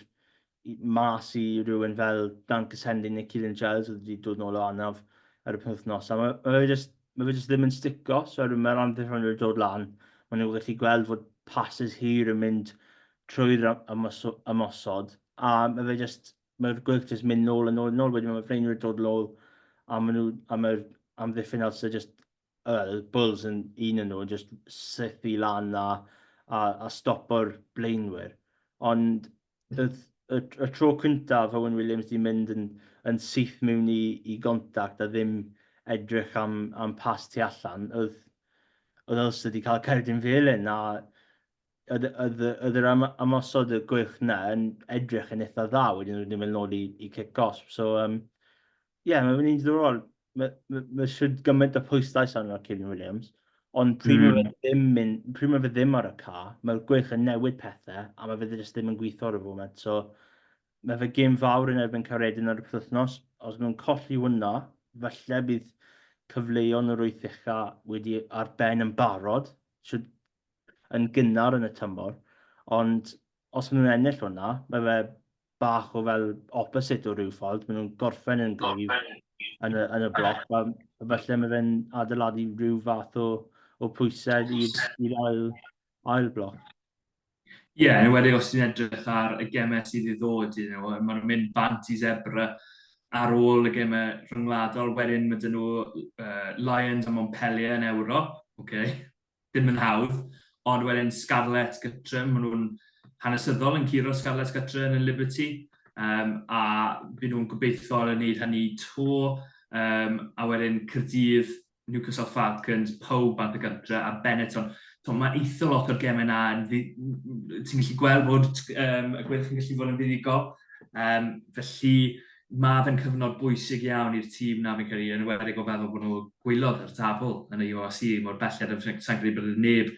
i- mas i rywun fel Dan Cassendi neu Kieran Giles oedd wedi dod nôl o anaf ar y penwythnos. A mae mae fe jyst mae fe jyst ddim yn stico, so er mae'r amddiffynwyr yn dod lan, maen nhw'n gallu gweld fod passes hir yn mynd trwy'r ymosod, a mae fe jyst, mae'r gwyll jyst mynd nôl yn nôl yn nôl, wedyn mae Freinwyr dod lol, a maen nhw, a mae'r amddiffyn os ydy jyst, well, Bulls yn un yn nhw, jyst sythu lan a, a, a stopo'r blaenwyr. Ond y, y, y tro cyntaf Owen Williams di mynd yn, yn syth mewn i, i gontact a ddim edrych am, am pas tu allan, oedd, oedd Ulster wedi cael cerdyn felyn, a oedd, oedd, oedd yr am, amosod y gwych na yn edrych yn eitha dda wedyn nhw'n mynd nôl i, i cic gosb. So, um, yeah, mae'n mynd i'n ddorol. Mae ma, ma siwr gymaint o pwyslais arno Kevin Williams. Ond pryd mm. mae fe ddim, mynd, pryd mae fe ddim ar y ca, mae'r gwych yn newid pethau a mae fe jyst ddim yn gweithio ar y foment. So, mae fe gym fawr yn erbyn Caredin ar y penwythnos. Os mae'n colli hwnna, falle bydd cyfleuon yr wyth ucha wedi ar ben yn barod. Siwr yn gynnar yn y tymor, ond os maen nhw'n ennill hwnna, mae fe bach o fel opposite o ryw ffordd, maen nhw'n gorffen yn gryf yn y, yn y bloc, a falle mae fe'n adeiladu rhyw fath o, o pwysedd i'r ail, ail bloc. Ie, yeah, yn ymwedig os ti'n edrych ar y gemau sydd i ddod, you know, mae'n mynd bant i Zebra ar ôl y gemau rhyngwladol, wedyn mae dyn nhw uh, Lions a Montpellier yn Ewrop, okay. ddim yn hawdd, ond wedyn Scarlett gytre, maen nhw'n hanesyddol yn curo Scarlett gytre yn y Liberty, um, a byd nhw'n gobeithio yn gwneud hynny to, um, a wedyn Cyrdydd, Newcastle Falcons, pawb bant y gytre, a Benetton. So, mae eitha lot o'r gemau yna, ti'n gallu gweld bod um, y gwyrdd yn gallu fod yn fuddugol, um, felly mae fe'n cyfnod bwysig iawn i'r tîm 'na fi'n credu, yn enwedig o feddwl bod nhw gwylod ar y tabl yn y UOC mor belled, a sa i'n credu bod neb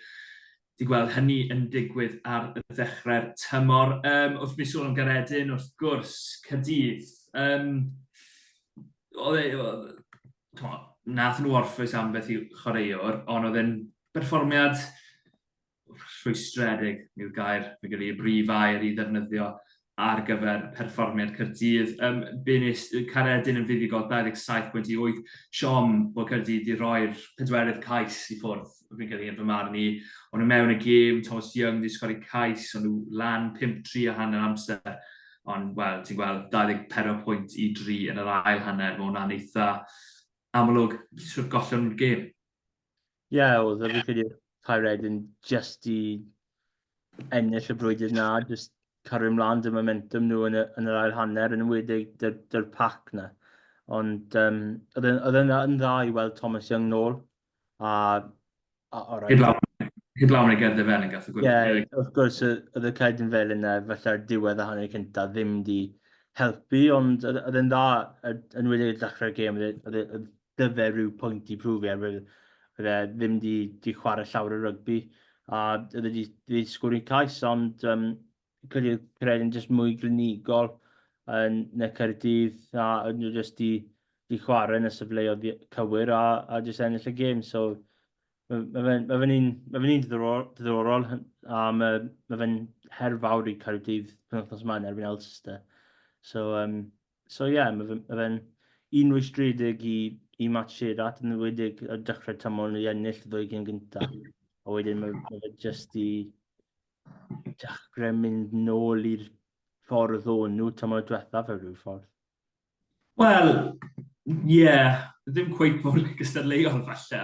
'di gweld hynny yn digwydd ar ddechrau'r tymor. Um, wrth mi sôn am Garedin, wrth gwrs, Caerdydd, um, oedd e, oedd, nath nhw orffwys ambell i chwaraewr, ond oedd e'n berfformiad rhwystredig yw'r gair, fi'n credu, y brif air i ddefnyddio ar gyfer perfformiad Cyrdydd. Um, Bunis Caredin yn fuddugol 27.8 siom bod Cyrdydd wedi rhoi'r pedwerydd cais i ffwrdd, fi'n credu yn fy marn i. Ond nhw mewn y gêm, Thomas Young wedi sgori cais, ond nhw lan 5-3 a hanner amser. Ond, wel, ti'n gweld 24 pwynt i 3 yn yr ail hanner, mae hwnna'n eitha amlwg trwy'r gollwng gêm. Ie, oedd e, fi'n credu oedd Paired yn jyst i ennill y brwydr na, jyst cario ymlaen dy momentum nhw yn y, yn yr ail hanner, yn ymwedig dy'r, dy'r pac na. Ond um, oedd e'n oedd e'n dda- yn dda i weld Thomas Young nôl, a, a o Heb rhaid, lawn, heb lawn ei gerdded fel yn gath y gwybod. ie, wrth gwrs y- oedd y ced yn fel yna, falle'r diwedd a hanner cyntaf ddim di helpu, ond oedd oedd e'n dda, y- yn wedi y dechrau'r gêm, oedd e- oedd e- oedd dy fe rhyw pwynt i prwfio, er fydde fe ddim di, di chwarae llawr y rygbi, a oedd wedi di sgwr i'n cais, ond um, credu credu yn jyst mwy glinigol yn y Caerdydd, a oedd nhw jyst di, di chwarae yn y sefleoedd cywir, a, a jyst ennill y gêm, so Mae fe'n ma fe un, ma fe un diddorol, diddorol a mae, ma fe'n her fawr i Caerdydd penwthnos yma yn erbyn Elster. So, um, So ie, mae fe'n ma fe un rwystredig i, i Matt Shearat yn ymwedig ar dechrau tymor nhw i ennill y ddwy gyn gyntaf. A wedyn mae, ma fe jyst i dechrau mynd nôl i'r ffordd o'n nhw tymor diwethaf ar rhyw ffordd. Wel, ie, yeah, ddim cweith mor gystadleuol falle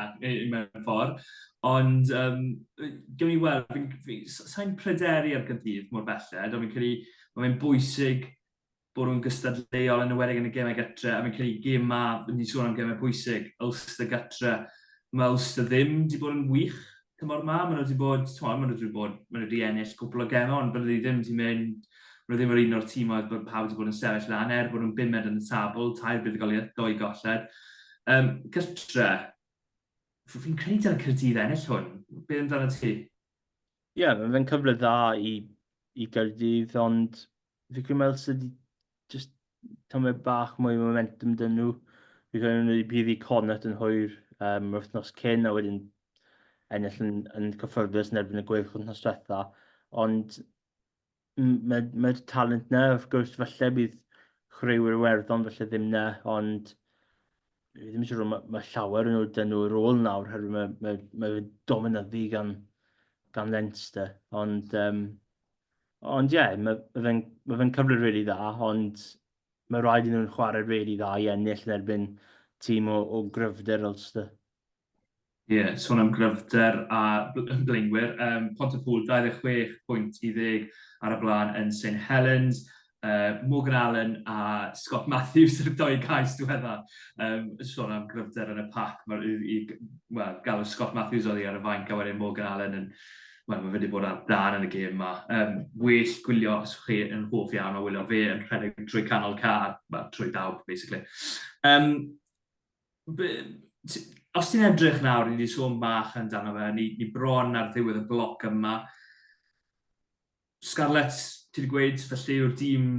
mewn ffordd, ond um, gewn ni weld, sa'n pryderu ar gydydd mor belled, ond fi'n credu mae fe'n bwysig bod nhw'n gystadleuol yn enwedig yn y gemau gytre a fi'n credu gym ma, fi'n ni'n sôn am gemau pwysig, Ulster gytre. Mae Ulster ddim wedi bod yn wych tymor ma, maen nhw wedi bod, tymor, maen nhw wedi bod, maen nhw wedi ennill cwpl o gemau ond bod nhw ddim wedi mynd Maen nhw ddim yr un o'r tîm oedd bod pawb wedi bod yn sefyll lan er bod nhw'n bumed yn y tabl, tair buddugoliaeth, doi golled. Um, gytre, fi'n credu dyna Cyrdydd ennill hwn. Be amdano ti? Ie, yeah, mae'n cyfle dda i, i Gyrdydd, ond fi credu meld sydd wedi just tymed bach mwy o momentum dyn nhw. Fi credu nhw wedi prif i Connacht yn hwyr um, yr wythnos cyn a wedyn ennill yn, yn cyffyrddus yn erbyn y gweilch wythnos diwetha. Ond mae'r mae, mae talent na, wrth gwrs, falle bydd chwaraewyr werddon falle ddim na, ond fi ddim eisiau rhoi, mae, mae llawer yn ôl dyn nhw yr ôl nawr, herwydd mae, mae, mae dominyddu gan, gan Leinster. Ond um, Ond ie, yeah, mae ma fe'n ma fe cyfle rili really dda, ond mae rhaid i nhw'n chwarae rili really dda i ennill yn erbyn tîm o, o gryfder Ulster. Ie, yeah, sôn am gryfder a blaenwyr, um, Pont y Pŵl 26 pwynt i ddeg ar y blaen yn St Helens, uh, Morgan Allen a Scott Matthews yn y doi cais diwedda. Um, sôn am gryfder yn y pac, mae'r i, well, galw Scott Matthews oedd i ar y fainc a wedyn Morgan Allen yn Wel, mae wedi bod ar dan yn y gêm yma. Um, well gwylio os chi yn hoff iawn o wylio fe yn rhedeg trwy canol car, well, trwy dawb, basically. Um, be, os ti'n edrych nawr, ni wedi sôn bach yn dan o fe, ni, ni bron ar ddiwedd y bloc yma, Scarlett, ti'n gweud, felly yw'r dîm,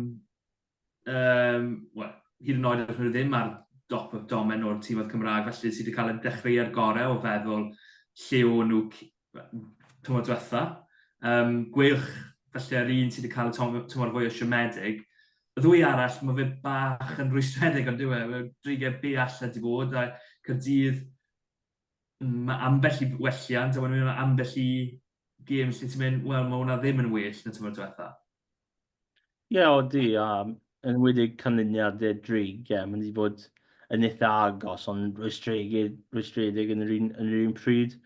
um, well, hyd yn oed yn ddim ar dop y domen o'r tîm oedd Cymraeg, felly sydd wedi cael ei dechrau ar gorau o feddwl lle o nhw tymor diwetha. Um, gweilch, felly ar un sydd wedi cael y tymor fwy o siomedig. Y ddwy arall, mae fe bach yn rwystredig ond diwe, mae dreigiau bell a di bod, a Cyrdydd, Mae ambell i welliant, a wedyn mae yna ambell i gêm lle ti'n mynd, wel, mae hwnna ddim yn well na tymor diwetha. Ie, yeah, o di, a yn wedi canlyniadau drig, ie, yeah, mae'n wedi bod yn eitha agos, ond rwystredig, rwystredig yn yr un, yn yr un pryd.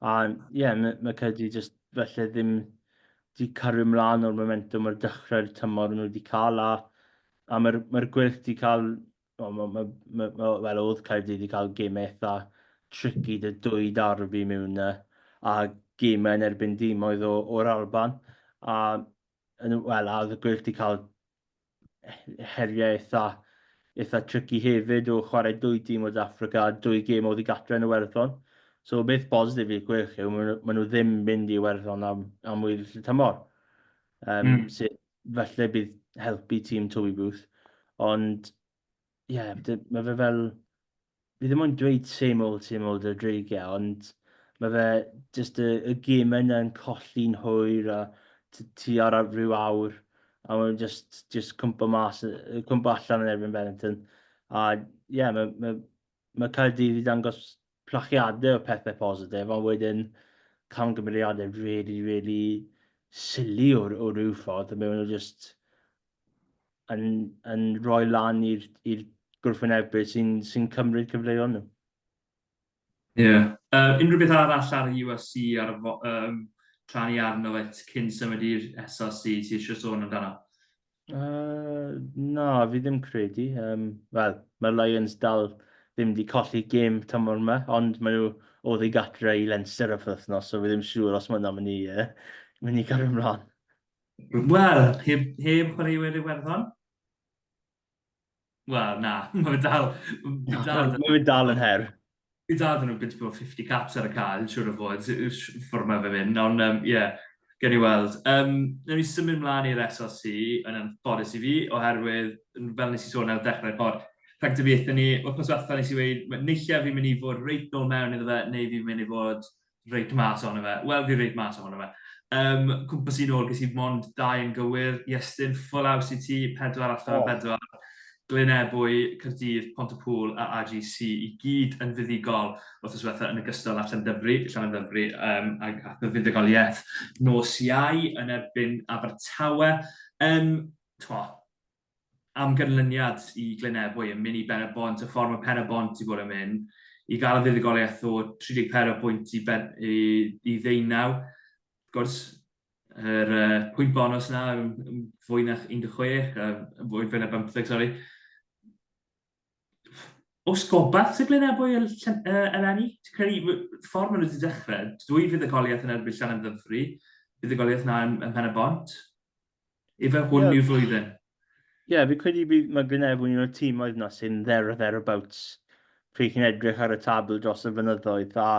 A ie, yeah, mae, mae Cedi jyst felly ddim wedi cario ymlaen o'r momentum ar dechrau'r tymor nhw wedi cael, a, a mae'r mae gwyrth wedi cael Wel, ma, ma, ma, ma, wel oedd Caerdydd wedi cael gymau eitha tricky dy dwy darbi mewn na, a gymau yn erbyn dim oedd o'r Alban. A, wel, a oedd y gwyll wedi cael heriau eitha, eitha tricky hefyd o chwarae dwy dim o Dafrica, dwy gym oedd i gatre yn y werddon. So, beth bositif i'r gwyll yw, maen nhw ddim mynd i werddon am, am wyl y tymor. Um, mm. Sydd falle bydd helpu tîm Toby Booth. Ond, ie, yeah, mae fe fel... Fi ddim ond dweud same old, same old y dreigiau, ond mae fe just y, y gym yna yn colli'n hwyr a ti ar rhyw awr a mae'n just, just cwmpa mas, cwmpa allan yn erbyn Benetton. A ie, yeah, mae, mae, Mae Caerdydd wedi dangos plachiadau o pethau positif, ond wedyn camgymeriadau really, really silly o, o ryw ffordd, a mewn nhw just yn, yn rhoi lan i'r gwrthwynebydd sy'n sy cymryd cyfleoedd nhw. Ie. Yeah. Uh, unrhyw beth arall ar y USC ar y um, tra ni arno fe cyn symud i'r SRC ti eisiau sôn amdano? Yy na, fi ddim credu. Um, Wel, mae'r Lions dal ddim wedi colli gêm tymor yma, ond maen nhw o ddi gatre i Leinster y wythnos, so fi ddim siŵr os maen nhw'n mynd i, uh, mynd i gario ymlaen. Wel, heb, heb chwaraewyr Iwerddon? Wel, na, mae fe dal... Mae dal, mae dal yn her. Mae dal yn nhw bit bod 50 caps ar y cael, siwr o fod, ffwrdd mae fe mynd. Ond, ie, um, yeah, gen i weld. Um, Nawr ni symud mlaen i'r SLC yn anffodus i fi, oherwydd, fel nes i sôn ar y dechrau'r bod, rhag dyfiaethau ni, o'r pwyswethfa nes i weid, neillio fi'n mynd i fod reit nôl mewn iddo fe, neu fi'n mynd i fod reid mas ohono fe. Wel, fi reid mas ohono fe. Um, cwmpas i'n ôl, ges i mond dau yn gywir. Iestyn, ffwl aws i ti, pedwar allan o bedwar. Glyn Ebwy, Cyrdydd, Pont y Pŵl a AGC i gyd yn fuddugol wrth yswetha yn y gystod allan dyfru, allan dyfru um, ac, ac y fuddugoliaeth nos iau yn erbyn Abertawe. Um, twa, am ganlyniad i Glynebwy yn mynd i Ben-y-bont, y ffordd mae Pen-y-bont wedi bod yn mynd, i gael y fuddugoliaeth o 34 pwynt i ben, i, i ddeunaw. Wrth gwrs, yr uh, pwynt bonus na, fwy na 16, uh, fwy, fwy na 15, sori. Os gobaith sy'n glyn ebwy yr eleni, ti'n credu ffordd maen nhw wedi dechrau, dwy fydd y goliaeth yn erbyn Llan yn ddyfru, bydd y goliaeth na yn, yn pen y bont. Efe hwn yeah. yw'r flwyddyn. Ie, yeah, fi credu bydd mae glyn ebwy yn y tîm oedd na sy'n dder o dder o bawts. Pryd chi'n edrych ar y tabl dros y fynyddoedd, a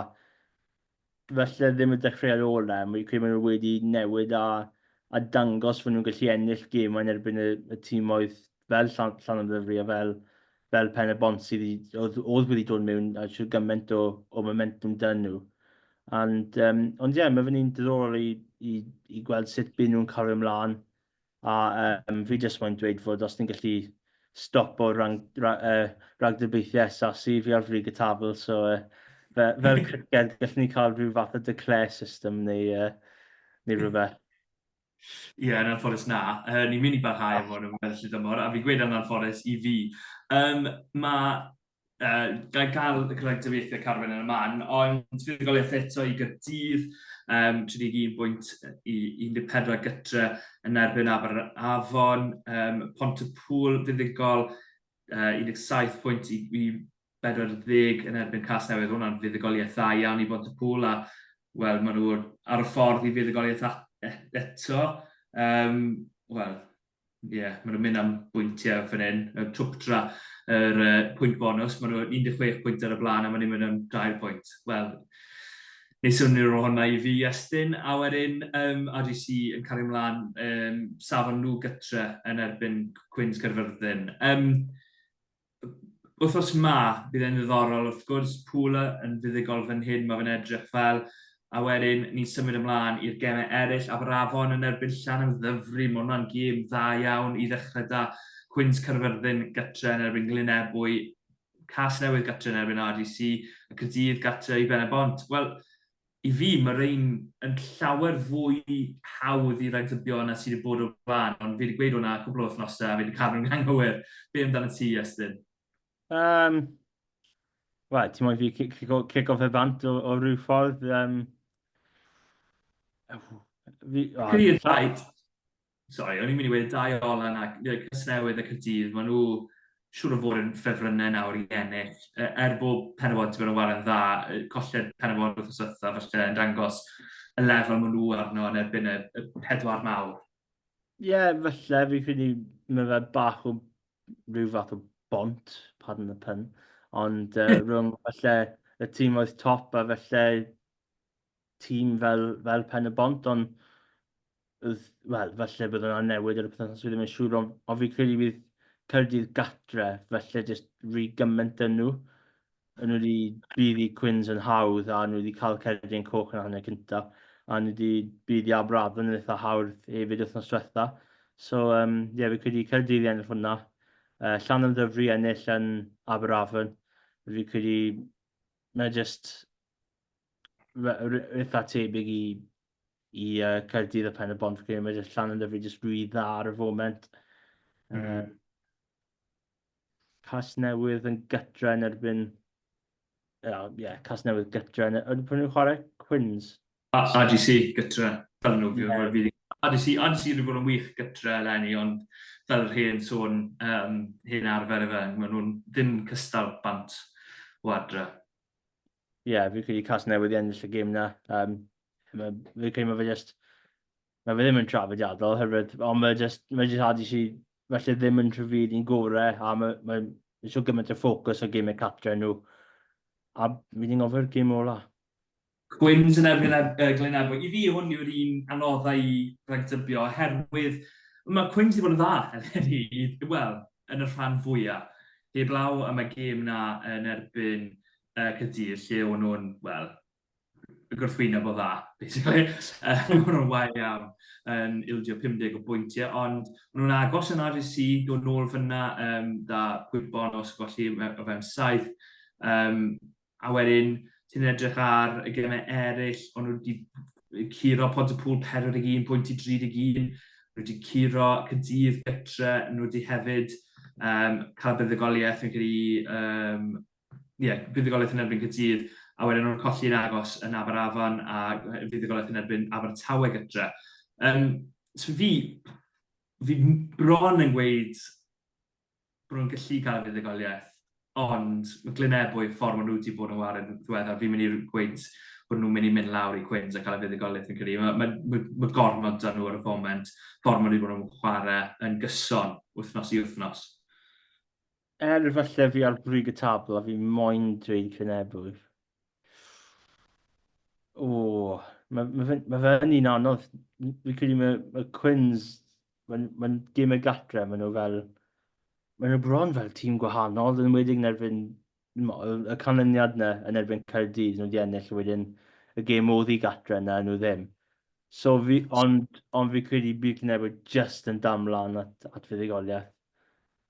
falle ddim y dechreuad orau, mae credu maen nhw wedi newid a, a dangos fod nhw'n gallu ennill gemau yn erbyn y, y tîmoedd fel Llan, Llan am Ddyfri a fel, fel Pen y Bont sydd oedd, oedd wedi dod mewn a siw gymaint o, o momentum dyn nhw. And, um, ond ie, yeah, mae fy'n un diddorol i, i, i gweld sut byd nhw'n cario ymlaen A um, fi jyst moyn dweud fod os ni'n gallu stopo rhag, ra, uh, ragdybiaethau asasu fi ar frig y tabl, so uh, fe, fel criced gallwn ni cael rhyw fath o declare system neu, uh, neu rhywbeth. Ie, yeah, yn anffodus na. Uh, ni'n mynd i barhau am hwn yn weddill y dymor, a fi'n gweud yn anffodus i fi. Um, mae uh, gael cael y cyfrangyfeithiau Carwen yn y man, ond fuddugoliaeth eto i gydydd, um, 31.14 gytre yn erbyn Aber Afon, um, Pont y Pŵl fuddugol, uh, 17 pwynt i, i 40 yn erbyn Cas Newydd, hwnna'n fuddugoliaeth dda iawn i Pont y Pŵl, a wel, maen nhw ar y ffordd i fuddugoliaeth eto. Um, wel, Ie, yeah, maen nhw'n mynd am bwyntiau fan hyn. Y Twptra, yr uh, pwynt bonus, maen nhw 16 pwynt ar y blaen a maen nhw'n mynd am 2 pwynt. Wel, neu swnio'r rôl hwnna i fi, Estyn. A wedyn, um, RGC yn cael ei mlaen, um, safon nhw gytre yn erbyn Cwins Caerfyrddin. Um, Wythnos ma, bydd e'n ddiddorol, wrth gwrs, Pula yn fuddugol fan hyn, mae fe'n edrych fel, a wedyn ni'n symud ymlaen i'r gemau eraill, Aberafon yn erbyn Llan am Ddyfri, mae hwnna'n gêm dda iawn i ddechrau da, Cwins Caerfyrddin gytre yn erbyn Glynebwy, Casnewydd gytre yn erbyn RDC, a Caerdydd gytre i Ben-y-bont. Wel, I fi, mae rhein yn llawer fwy hawdd i ragdybio na sydd wedi bod o'r blaen, ond fi wedi gweud hwnna cwpl o wythnosau a fi wedi cadw'n anghywir. Be amdanat ti, Iestyn? Um, Wel, ti'n moyn fi cico, cico fe bant o, o rhyw ffordd? Um, fi, oh, Clear fight. Sori, o'n i'n mynd i wedi dau olan ac Casnewydd ac y dydd, maen nhw siwr o fod yn ffefrynnau nawr i ennill. E, er bod Penybon wedi bod yn wario'n dda, colled Penybon wrth yswtha, felly yn dangos y lefel maen nhw arno yn erbyn y, y pedwar mawr. Ie, yeah, felly, fi credu mae fe bach o rhyw fath o bont, pardon y pun, ond uh, rhwng felly y tîm oedd top a felly tîm fel, fel Pen y Bont, ond wel, falle bydd yna newid ar y pethau sydd ddim yn siŵr, ond, ond fi'n credu bydd Cyrdydd gatre, falle jyst rhy gymaint yn nhw. Yn nhw wedi bydd i Cwins yn hawdd, a nhw wedi cael Cerdyn Coch yn hanner cyntaf, a nhw wedi bydd i Aberafon yn eitha hawdd hefyd wythnos diwetha. So, um, ie, yeah, fi'n credu Cyrdydd i ennill hwnna. Uh, Llan am ddyfru ennill yn Aberafon. Fi'n credu mae jyst eitha tebyg i, i uh, Caerdydd a Pen y Bont, fi'n credu, mae llan yn dyfu jyst rwy dda ar y foment. Mm. Um, cas newydd yn gytra yn erbyn... Ie, yeah, yeah, cas newydd gytra yn erbyn... Pwyn nhw'n chwarae Quins? A AGC gytra, fel nhw, fi'n yeah. fi. AGC, AGC wedi bod yn wych gytra eleni, ond fel yr hen sôn, um, hen arfer efe, maen nhw'n ddim cystal bant o adre. ie, yeah, fi'n credu cas newydd i ennill y gym na. Um, mae, fi'n credu mae fe just, mae fe ddim yn trafodiadol hefyd, ond mae just, mae just hadi si, felly ddim yn trafod i'n gore, a mae, mae, mae so gymaint o ffocws o gymau catre nhw. A fi'n gofio'r gym ola. Gwyn's yn erbyn yy Glyn Ebwy. I fi hwn yw'r un anodda i ragdybio oherwydd mae Cwyn's wedi bod yn dda eleni, wel, yn y rhan fwya'. Heblaw am y gêm 'na yn erbyn yy Caerdydd lle o'n nhw'n, wel, y gwrthwyneb o dda, basically. Yym o'n nhw'n wael iawn yn ildio 50 o bwyntiau ond o'n nhw'n agos yn RSC, dod nôl fan'na yym 'da gwybon os golli o fewn saith. Yym a wedyn ti'n edrych ar y gemau eraill, ond nhw wedi curo pont y pŵl 41 pwynt i 31, nhw wedi curo cydydd gytre, nhw wedi hefyd um, cael buddugoliaeth yn gyda, um, yeah, buddugoliaeth yn erbyn cydydd, a wedyn nhw'n colli'n agos yn Aberafan a fuddugoliaeth yn erbyn Abertawe gytre. Um, so fi, fi bron yn gweud bod nhw'n gallu cael y fuddugoliaeth, ond mae Glyn Ebwy, y ffordd maen nhw wedi bod yn wario yn ddiweddar, fi'n mynd i gweud bod nhw'n mynd i mynd lawr i Quins a cael y fuddugoliaeth yn credu. Mae, mae, mae, mae gormod da nhw ar y foment, ffordd maen nhw wedi bod yn chwarae yn gyson wythnos i wythnos. Er falle fi ar brig y tabl a fi moyn dweud Glyn Ebwy, O, mae ma fe, ma fe yn un anodd. Fi'n credu mae, mae Quins, mae'n ma gym y gatre, maen nhw fel... Maen nhw bron fel tîm gwahanol, yn wedi'n yn erbyn y canlyniad yna yn erbyn Caerdydd, nhw wedi ennill wedyn y gêm oedd i gatre yna, nhw ddim. So fi, ond, ond fi credu bydd Cynefo just yn damlan at, at fuddugoliaeth.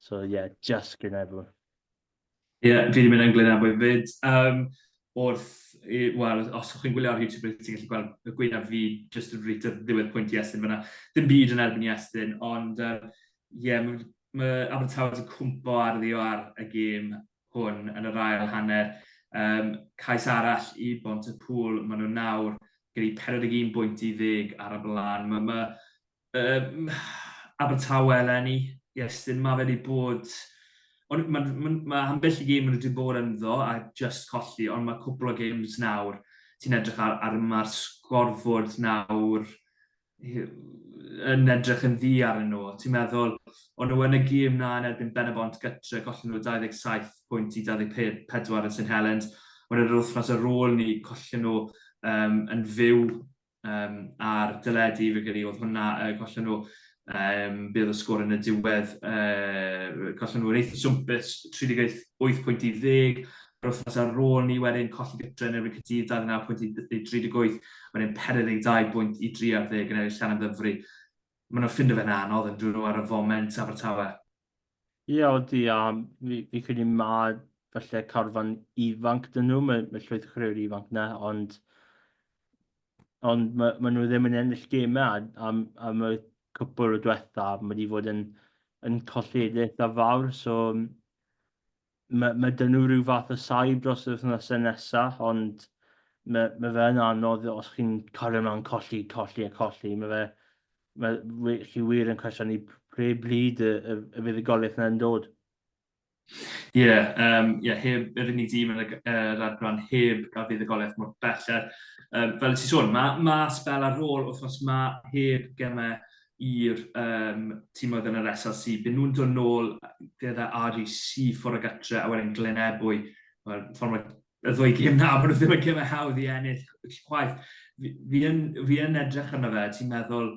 So ie, yeah, just Cynefo. Ie, yeah, fi wedi mynd yn Glyn Abu fyd. Um, wrth, wel, os ydych chi'n gwylio ar YouTube, ydych chi'n gallu gweld y gwynaf fi jyst yn rhaid ar ddiwedd pwynt Iestyn fyna. Dim byd yn erbyn Iestyn, ond ie, um, yeah, mae ma Abertawe wedi cwmpo ar ddio ar y gêm hwn yn yr ail hanner. Um, cais arall i Bont y Pŵl, maen nhw nawr gyda'i 41 bwynt i ddeg ar y blaen. Mae ma, Um, Abertawe eleni, Iestyn, mae fe wedi bod... Ond mae ma, ma ambell i gêm maen nhw wedi bod ynddo a just colli, ond mae cwpl o games nawr, ti'n edrych ar, ar mae'r sgorfod nawr yn edrych yn ddi ar nhw. Ti'n meddwl, ond nhw yn y gêm na yn erbyn Benabont gytre, gollen nhw 27 pwynt i 24 yn St Helens. Ond yr wythnos ar ôl ni, collen nhw um, yn fyw um, ar dyledu, fe gyda oedd hwnna, uh, gollen nhw um, bydd y sgôr yn y diwedd, uh, gollen nhw'n eitha swmpus, 38 pwynt i ddeg, yr wythnos ar ôl ni wedyn colli gytre yn erbyn Cydydd 29 pwynt i 38, wedyn 42 pwynt i 30 yn eraill llan am ddyfru. Mae nhw'n ffind o fe'n anodd yn dyn nhw ar y foment Abertawe. Ie odi a fi fi'n credu ma' falle carfan ifanc 'dyn nhw, ma' ma' llwyth o chwaraewyr ifanc 'na ond ond ma' ma' nhw ddim yn ennill gemau a am am y cwpwl o dwetha ma' 'di fod yn yn colledigaeth dda fawr so Mae, mae 'da nhw rhyw fath o saib dros yr wythnosau nesa, ond mae, mae fe yn anodd os chi'n cario mlaen colli, colli a colli. Mae fe, mae, wy- chi wir yn cwestiynu pre bryd y, y, y fydd y goliaeth yna'n dod. Ie, yeah, um, yeah, heb yr unig dîm yn y uh, radran heb a fydd y goliaeth mor belled. Um, fel y ti sôn, mae ma spel ar ôl wrth os mae heb gemau i'r yym timoedd yn yr SLC, bydden nhw'n dod nôl gyda RUC ffordd o gytre, a wedyn Glynebwy, mae'r ffordd mae y ddwy gêm na, maen nhw ddim yn gymau hawdd i ennill chwaith. Fi, fi, yn, fi yn edrych arno fe, ti'n meddwl,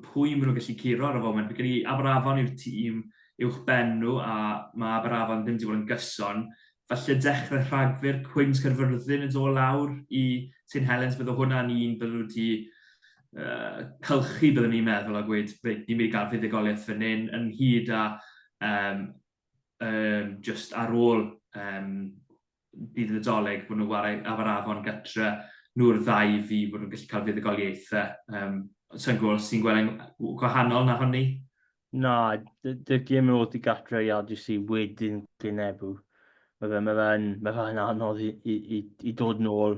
pwy maen nhw'n gallu curo ar y foment? Fi gyda Aberafon yw'r tîm uwch ben nhw, a mae Aberafon ddim wedi bod yn gyson. Falle dechrau rhagfyr, Cwins Caerfyrddin yn dod lawr i St Helens, bydde hwnna'n un bydde nhw wedi uh, cylchu, byddwn i'n meddwl, a gweud, reit, ni'n mynd i gael fuddugoliaeth fan hyn, yn hyd a um, um, just ar ôl um, bydd y doleg bod nhw'n wario afarafon gytre, nhw'r ddau fi bod nhw'n gallu cael fuddugoliaethau. Um, Sa'n gwybod os ti'n gweld gwahanol na honni? Na, dy'r gym yn ôl i gatre i AGC wedyn gynebu. Mae fe'n ma fe ma fe anodd i, i, i, i dod yn ôl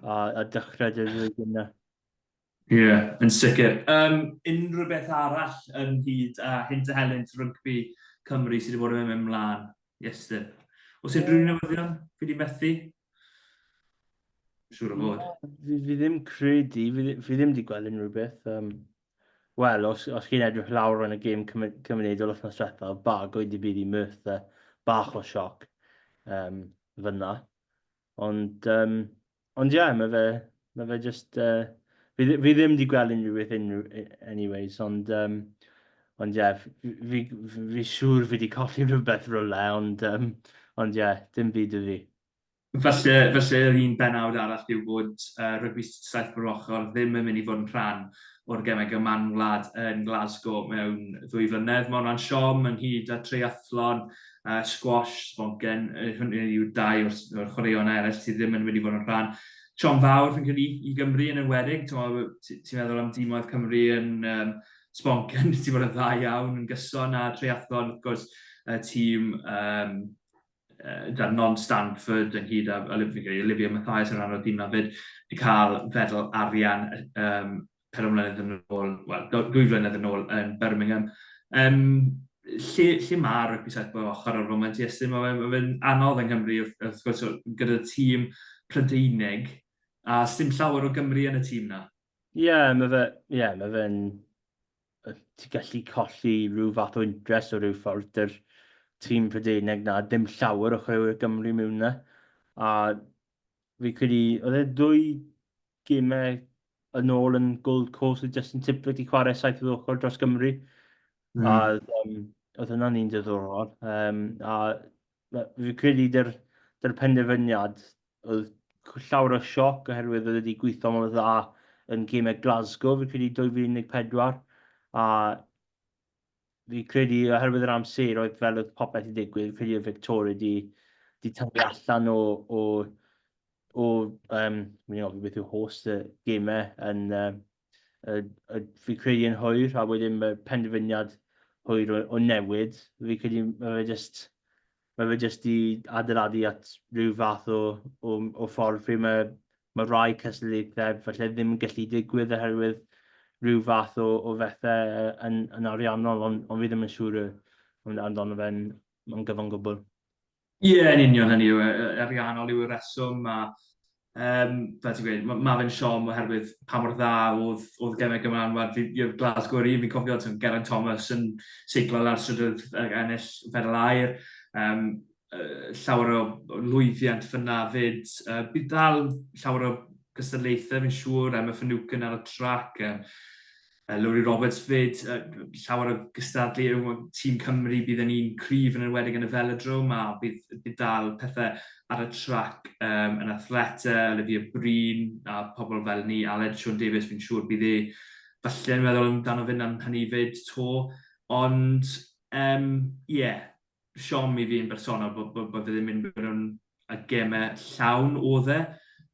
a, a dechrau dy flwyddyn yna. Ie, yeah, yn sicr. Um, unrhyw beth arall yn hyd a hyn dy helynt rygbi Cymru sydd wedi bod yn mynd mlaen, Iestyn? Os unrhyw newyddion, fi wedi methu? Siwr o fod. Fi, fi ddim credu, fi, fi ddim wedi gweld unrhyw beth. Um, Wel, os, os chi'n edrych lawr yn y gêm cymunedol o'r noswetha, bago i di bydd i Merthyr bach o sioc um, fyna. Ond, um, ond ie, yeah, mae fe, mae fe just... Uh, fi, fi ddim wedi gweld unrhyw beth unrhyw, anyways, ond... Um, ond ie, yeah, fi, fi, fi siŵr fi wedi colli rhywbeth rhywle, ond, um, ond ie, yeah, dim byd y fi. Felly, felly yr un benawd arall yw bod uh, rygbi saith o'r ochr ddim yn mynd i fod yn rhan o'r gemau gyman wlad yn Glasgow mewn ddwy flynedd. Mae hwnna'n siom ynghyd â treiathlon uh, squash, sbongen, hynny yw dau o'r, or chwaraeon eraill sydd ddim yn wedi bod yn rhan Sion fawr fi'n credu i Gymru yn enwedig. Ti'n meddwl am dîmoedd Cymru yn um, sponken, ti'n bod yn dda iawn, yn gyson a triathlon, wrth gwrs, y tîm um, uh, da non Stanford yn hyd a Olivia, Olivia Mathias yn rhan o'r tîm na fyd, wedi cael fedal arian um, pedwar mlynedd yn ôl, wel, dwy flynedd yn ôl yn Birmingham. Um, lle, lle mae rygbi set bod ochr ar foment i estyn? Mae fe'n fe anodd yng Nghymru, wrth gwrs, gyda tîm Prydeinig, a sdim llawer o Gymru yn y tîm na. Ie, yeah, mae fe, yeah, mae fe'n... Ti'n gallu colli rhyw fath o intres o rhyw ffordd dy'r tîm Prydeinig na, dim llawer o chrewyr Gymru mewn na. A Fi'n credu, oedd e ddwy gemau yn ôl yn Gold Coast oedd Justin Tipler wedi chwarae saith o'r ochr dros Gymru. Mm. A oedd hwnna'n un diddorol. Um, a fi'n credu dy'r, dyr penderfyniad oedd llawr o sioc oherwydd oedd wedi gweithio mor dda yn gemau Glasgow, fi'n credu 2014. A fi'n credu oherwydd yr amser oedd fel oedd popeth i ddigwydd, fi'n credu oedd Victoria di, di tyfu allan o, o, o um, fi'n ofyn beth yw host y gemau yn, um, y, y, fi'n credu yn hwyr, a wedyn mae penderfyniad hwyr o, o newid, fi'n credu mae fe just, ma' fe jyst 'di adeiladu at ryw fath o o o ffordd pryd mae ma' rai cystadleuaethau falle ddim yn gallu digwydd oherwydd rhyw fath o o fethe yy yn yn ariannol ond ond fi ddim yn siŵr yy am- amdano fe yn yn gyfan gwbwl. Ie yn union hynny yw e- yy ariannol yw y reswm a Um, fel ti'n gweud, mae ma fe'n siom oherwydd pa mor dda oedd, oedd gemau Gymraeg yn wad i'r Glasgow yr un. Fi'n cofio ti'n Geraint Thomas yn seiglo lawr strydoedd ag ennill fedal air. Um, uh, llawer o lwyddiant fyna fyd. Uh, bydd dal llawer o gystadlaethau fi'n siŵr, Emma Finucane ar y trac. Um, Uh, Lowri Roberts fyd, uh, llawer o gystadlu yw tîm Cymru, bydd yn un cryf yn enwedig yn y velodrome a bydd, bydd dal pethau ar y trac um, yn athleta, Olivia Bryn a pobl fel ni, Aled Sean Davies, fi'n siŵr bydd e falle yn meddwl amdano fy na'n hynny fyd to, ond ie, um, yeah, siom i fi yn bersonol bod, bod, bod ddim yn mynd mewn y gemau llawn o dde.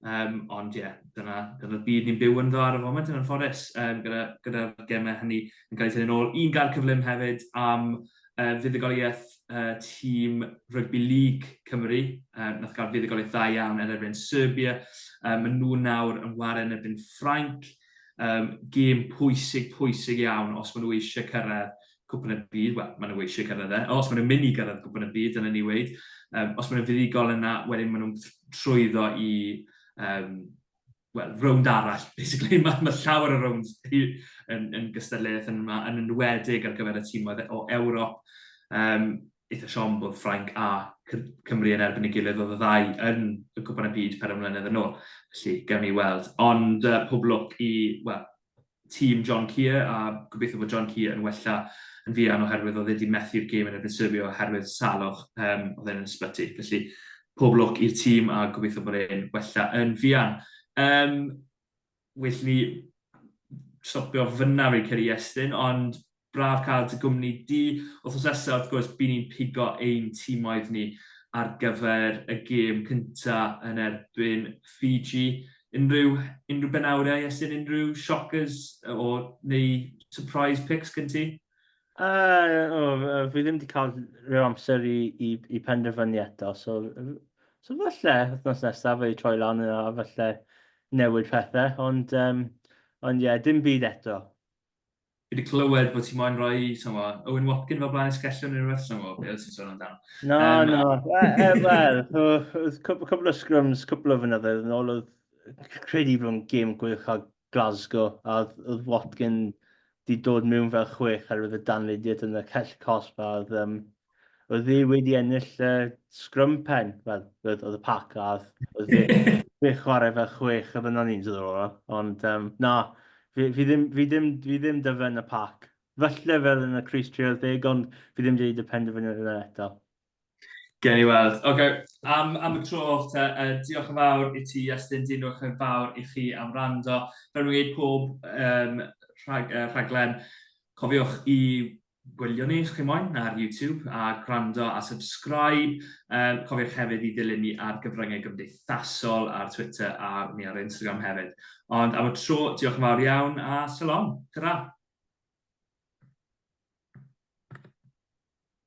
Um, ond ie, yeah, dyna, dyna byd ni'n byw ynddo ar y foment yn anffodus, um, gyda, gyda gemau hynny yn cael ei tynnu'n ôl. Un gair cyflym hefyd am uh, fuddugoliaeth uh, tîm Rugby League Cymru, uh, nath gael fuddugoliaeth dda iawn yn erbyn Serbia. Um, maen nhw nawr yn wario yn erbyn Ffrainc. Um, gêm pwysig, pwysig iawn os maen nhw eisiau cyrraedd Cwpan y Byd, wel, maen nhw eisiau cyrraedd e. Os maen nhw'n mynd i gyrraedd Cwpan y Byd, dyna ni weid. Um, os maen nhw'n fuddugol yna, wedyn maen nhw'n trwyddo i um, well, rownd arall, basically. Mae, ma llawer o rownd yn, yn gystadleuaeth yn yma, yn enwedig ar gyfer y tîmoedd o Ewrop. Um, eitha siom bod Ffrainc a Cymru yn erbyn y gilydd oedd y ddau yn y cwpan y byd per ymwneud yn ôl. Felly, gawn ni weld. Ond uh, pob lwc i, well, tîm John Kear a gobeithio bod John Kear yn wella yn fuan oherwydd oedd e 'di methu'r gêm yn erbyn Serbia oherwydd salwch, yym, oedd e'n yn ysbyty. Felly, pob lwc i'r tîm a gobeithio bod e'n wella yn fuan. Yym, well ni stopio fyna fi'n credu Iestyn, ond braf cael dy gwmni di. Wythnos nesaf, wrth gwrs, by ni'n pigo ein timoedd ni ar gyfer y gêm cynta yn erbyn Fiji. Unrhyw, unrhyw benawdau, Iestyn, unrhyw shockers o, neu surprise picks gen ti? Uh, o, fi ddim wedi cael rhyw amser i, i, i penderfynu eto, so, so falle wythnos nesaf fe i troi lan yna, falle newid pethau, ond um, ond ie, yeah, dim byd eto. Fi wedi clywed bod ti moyn rhoi, somo, Owen Watkin fel blaen esgellion neu rhywbeth, somo, beth oedd ti'n sôn amdano? No, um, no, wel, oedd cwbl o sgrwms, cwbl o fynyddoedd yn ôl, oedd credu bod yn gêm gwych a Glasgow, a oedd Watkin di dod mewn fel chwech ar oedd y danlidiad yn y cell cosb, a oedd um, oedd ddi wedi ennill y scrum pen, fel, oedd y pac a oedd ddi chwarae fe chwech a fyna ni'n dod o'r ôl. Ond, um, na, fi, fi, ddim, fi, ddim, fi ddim dyfen y pac. Felly fel yn y Chris Trail deg, ond fi ddim wedi y penderfyniad yna eto. Gen i weld. Oce, okay. am, am y tro, te, uh, diolch yn fawr i ti, Iestyn, diolch yn fawr i chi am rando. Fel rwy'n gwneud pob um, rhag, uh, rhaglen, cofiwch i gwylio ni os chi moyn ar YouTube a gwrando a subscribe. Uh, cofiwch hefyd i ddilyn ni ar gyfryngau gymdeithasol ar Twitter a ni ar Instagram hefyd. Ond am y tro, diolch yn fawr iawn a salon. Ta-ra!